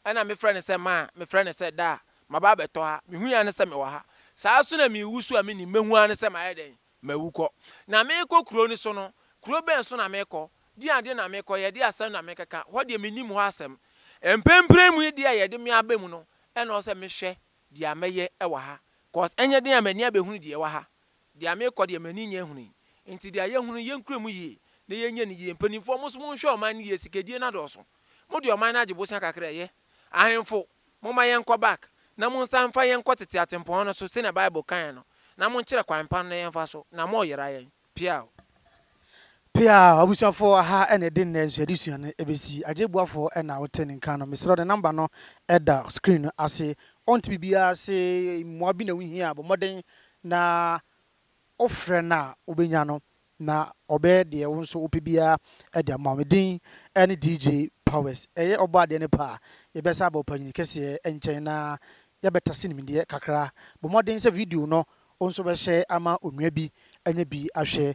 ɛna me frɛ no sɛ maa me frɛ no sɛ daa maba abɛtɔ ha me hui ara ne sɛ me wɔ ha saa ara nso na me wu so a me nim mɛhu ara ne sɛ mayɛ dɛn mawu kɔ na me rekɔ kuro no so no kuro bɛn so na me rekɔ deɛ adeɛ na me rekɔ yɛ deɛ asɛm na me rekɛka hɔ deɛ me nim hɔ asɛm mprenpren mu deɛ yɛ de me aba mu no ɛna ɔsɛ me hwɛ deɛ mɛyɛ ɛwɔ ha cause ɛnyɛ den a m'ani abɛhunu deɛ ɛwɔ ha. Deɛ merekɔ deɛ m'ani nyɛ hunu yi nti deɛ yɛhunu no yɛnkura mu yie na yɛnyɛ no yie mpanimfoɔ mo nso monhwɛ ɔman no yie sikadie no adɔɔso mo deɛ ɔman no agye bosea kakra ɛyɛ ahenfo momma yɛnkɔ back na monsan mfa yɛn nkɔ tete atempɔn no so sɛnea bible kaeɛ no na monkyerɛ kwan pa no na yɛmfa so na moyera yɛn piaww. Peaa, abusuafo, aha na yɛde nnɛ nso adesua no besi. Agye Boafo na wote ne nka no. Mesrɛ wo, ne namba no da screen no ase. Ɔnte biribiara ase, mmoa bi na wuhia a, bɔ mmɔden na wofrɛ no a wobenya no, na ɔbɛyɛ deɛ wo nso wopɛ biara de ama wo. Me din ne DJ Powers. Ɛyɛ ɔbɔ adeɛ no pɛ a, yɛbɛsan aba Ɔpanyin Kɛseɛ nkyɛn na yɛabɛtase nimdeɛ kakra. Bɔ mmɔden sɛ video no Wo nso bɛhyɛ ama onua bi anya bi ahwɛ?